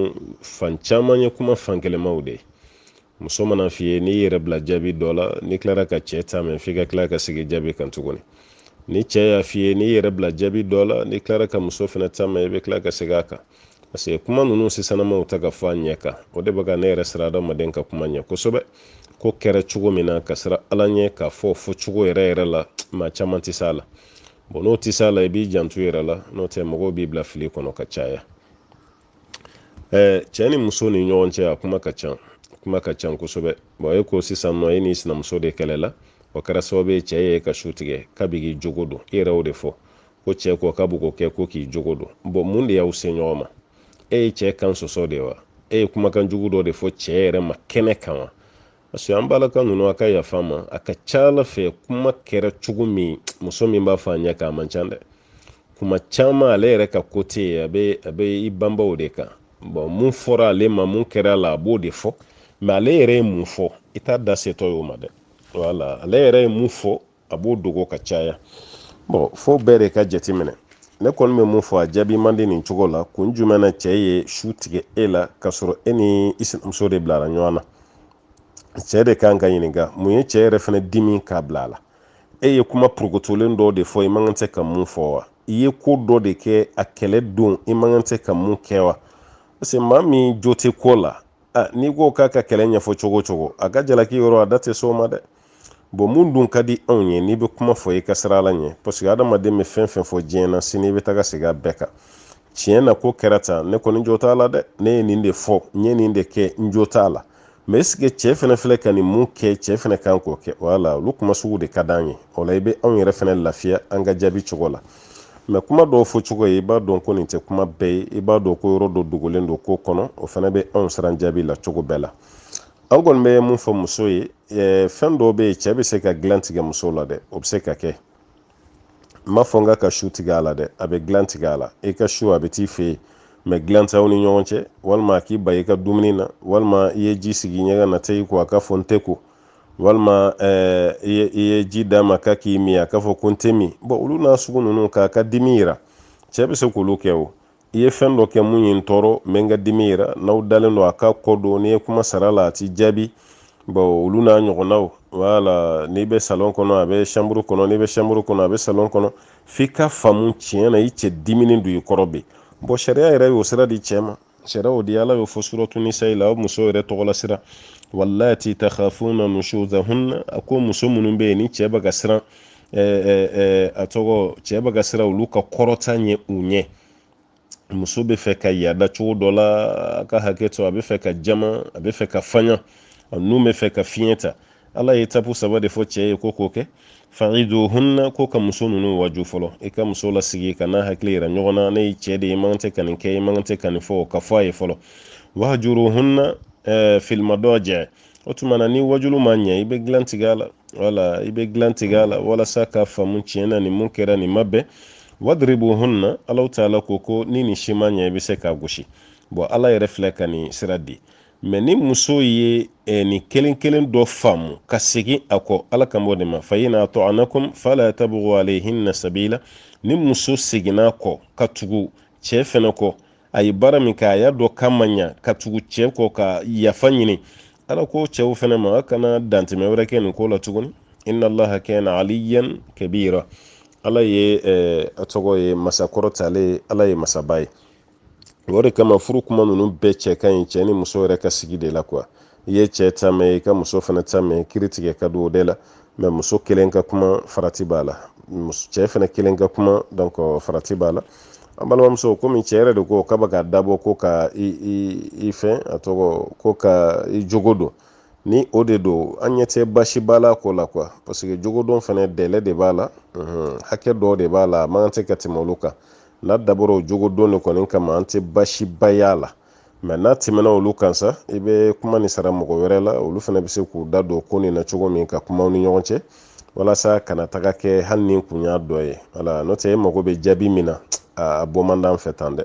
fan caman ye kuma fankelenmaw de ye muso man'a f'i ye n'i yɛrɛ bila jaabi dɔ la n'i tilara ka cɛ ta mɛn f'i ka tila ka segin jaabi kan tuguni ni cɛ y'a f'i ye n'i yɛrɛ bila jaabi dɔ la n'i tilara ka muso fana ta mɛn i bɛ tila ka segin a kan parce que kuma ninnu sisanamaw ta ka fɔ a ɲɛ kan o de bɛ ka ne yɛrɛ siran adamaden ka kuma ɲɛ kosɛbɛ ko kɛra cogo min na ka siran ala ɲɛ k'a fɔ fɔ cogo yɛrɛ yɛrɛ la maa caman tɛ s'a la bɔn n'o tɛ s'a la i b'i janto yɛrɛ la n'o tɛ mɔgɔw b'i bila fili kɔnɔ ka caya ɛɛ cɛ ni muso ni ɲɔgɔn cɛ a kuma ka ca kuma ka ca kosɛbɛ bɔn e ko sisan nɔ e ni sinamuso de kɛlɛla o kɛra sababu ye cɛ y'i ka su tigɛ k'a bɛ k'i jogo don i yɛrɛ o de fɔ ko cɛ ko k'a bɛ k'o kɛ ko k'i jogo don bɔn mun de y'aw se ɲɔgɔn ma e ye cɛ kan sɔsɔ de wa e ye kumakan jugu dɔ de fɔ cɛ yɛrɛ ma kɛnɛ kan wa parce que an balaka ninnu a ka yafa ma a ka ca ala fɛ kuma kɛra cogo min muso min b'a fɔ a ɲɛ kan a man ca dɛ kuma caman ale yɛrɛ ka kote ye a bɛ a bɛ i banban o de kan bɔn mun fɔra ale ma mun kɛra a la a b'o de fɔ mɛ ale yɛrɛ ye mun fɔ i t'a da setɔ y'o ma dɛ wala ale yɛrɛ ye mun fɔ a b'o dogo ka caya bɔn fo bɛɛ de ka jateminɛ ne kɔni bɛ mun fɔ a jaabi man di nin cogo la kun jumɛn na cɛ ye su tigɛ e la k'a sɔrɔ e ni i sinamuso de bilara ɲɔgɔn na cɛ de kan ka ɲininka mun ye cɛ yɛrɛ fana dimi k'a bila a la e ye kuma purukotolen dɔ de fɔ i man kan tɛ ka mun fɔ wa i ye ko dɔ de kɛ a kɛlɛ don i man kan tɛ ka mun kɛ wa parce que maa min jo tɛ ko la n'i ko k'a ka kɛlɛ ɲɛfɔ cogo cogo a ka jalaki yɔrɔ a da tɛ s'o ma dɛ bɔn mun dun ka di anw ye n'i bɛ kuma fɔ i ka siran ala ɲɛ parce que adamaden bɛ fɛn fɛn fɔ diɲɛ na sini i bɛ taga segin a bɛɛ kan tiɲɛ na ko kɛra tan ne kɔni jo t'a la dɛ ne ye nin de fɔ n ye nin de kɛ n jo t'a la mɛ est-ce que cɛ fɛnɛ filɛ ka nin mun kɛ cɛ fɛnɛ kan k'o kɛ wala olu kuma sugu de ka d'an ye o la i bɛ anw yɛrɛ fɛnɛ lafiya an ka jaabi cogo la mɛ kuma dɔw fɔ cogo ye i b'a dɔn ko nin tɛ kuma bɛɛ ye i b'a dɔn ko yɔrɔ dɔ dogolen don ko kɔnɔ o fɛnɛ bɛ anw siran jaabi la cogo bɛɛ la an kɔni bɛ mun fɔ muso ye fɛn dɔw bɛ yen cɛ bɛ se ka dilan tigɛ muso la dɛ o bɛ se ka kɛ n m'a fɔ k'a ka su tigɛ a la dɛ a bɛ dilan tigɛ a la i ka su a bɛ t'i fɛ yen mɛ dilan t'aw ni ɲɔgɔn cɛ walima a k'i ban i ka dumuni na walima i ye ji sigi ɲɛgɛn na taa i ko a ka fɔ n tɛ ko walima eh, i ye ji d'a ma k'a k'i min a k'a fɔ ko n tɛ min bɔn olu n'a sugu ninnu k'a ka dimi yira cɛ bɛ se k'olu kɛ o i ye fɛn dɔ kɛ mun ye n tɔɔrɔ n bɛ n ka dimi yira n'aw dalen don a k'a kɔ don n'i ye kuma sara a la a t'i jaabi bon olu n'a ɲɔgɔnnaw wala n'i bɛ salon kɔnɔ a bɛ chambre kɔnɔ n'i bɛ chambre kɔnɔ a bɛ salon kɔnɔ f'i k'a faamu tiɲɛ na i cɛ diminen don i kɔrɔ bi bɔn sariya yɛrɛ y'o sira di cɛ ma sariya y'o di ala y'o fɔ suratu nisayi la o muso yɛrɛ tɔgɔla sura wallati takhafuna nushuzahunna a ko muso minnu bɛ yen ni cɛ bɛ ka siran a tɔgɔ cɛ bɛ ka siran olu ka kɔrɔta ɲɛ u ɲɛ muso bɛ fɛ ka yaada cogo dɔ la a ka hakɛ to a bɛ fɛ ka jama a bɛ fɛ ka fanya a nun bɛ fɛ ka fiɲɛ ta ala ye etapu saba de fɔ cɛ ye ko k'o kɛ fa'iduhunna ko ka muso ninnu waaju fɔlɔ i ka muso lasigi ka n'a hakili yira ɲɔgɔn na ne ye cɛ de ye i man tɛ ka nin kɛ i man tɛ ka nin fɔ ka fɔ a ye fɔlɔ wahjuruhunna fil madaji o tuma na ni waajulu ma ɲɛ i bɛ dilan tigɛ a la wala i bɛ dilan tigɛ a la walasa k'a faamu tiɲɛ na nin mun kɛra nin ma bɛn wadribuhunna alahu taala ko ko ni nin si ma ɲɛ i bɛ se k'a gosi bon ala yɛrɛ filɛ ka nin sira di mɛ ni muso ye eh, nin kelen kelen dɔ faamu ka segin a kɔ ala kan b'o de ma fa in ata'anakum fala tabugu alayhinna sabila ni muso seginna kɔ ka tugu cɛɛ fɛnɛ kɔ a ye baara min kɛ a y'a dɔn k'a ma ɲa ka tugu cɛɛ kɔ ka yafa ɲini ala ko cɛw fɛnɛ ma a kana dantɛmɛ wɛrɛ kɛ nin ko la tuguni inna allaha kana aliyan kabira ala ye eh, a tɔgɔ ye masa kɔrɔtalen ala ye masaba ye o de kama furu kuma ninnu bɛɛ cɛ ka ɲi cɛɛ ni muso yɛrɛ ka sigi de la quoi i ye cɛ ta mɛn i ka muso fana ta mɛn kiri tigɛ ka don o de la mɛ muso kelen ka kuma farati b'a la cɛ fana kelen ka kuma donc farati b'a la an balimamuso komi cɛ yɛrɛ de ko k'a bɛ k'a dabɔ ko ka i fɛn a tɔgɔ ko ka i jogo don ni o de don an ɲɛ tɛ basiba la ko la quoi parce que jogodon fana dɛlɛ de b'a la hakɛ dɔ de b'a la a man kan tɛ ka tɛmɛ olu kan n'a dabɔra o jogodon de kɔni kama an tɛ basiba y'a la mɛ n'a tɛmɛna olu kan sa i bɛ kuma nin sara mɔgɔ wɛrɛ la olu fana bɛ se k'u da don ko nin na cogo min ka kuma aw ni ɲɔgɔn cɛ walasa a kana taga kɛ hali ni kun y'a dɔ ye wala n'o tɛ e mago bɛ jaabi min na a bɔ man d'an fɛ tan dɛ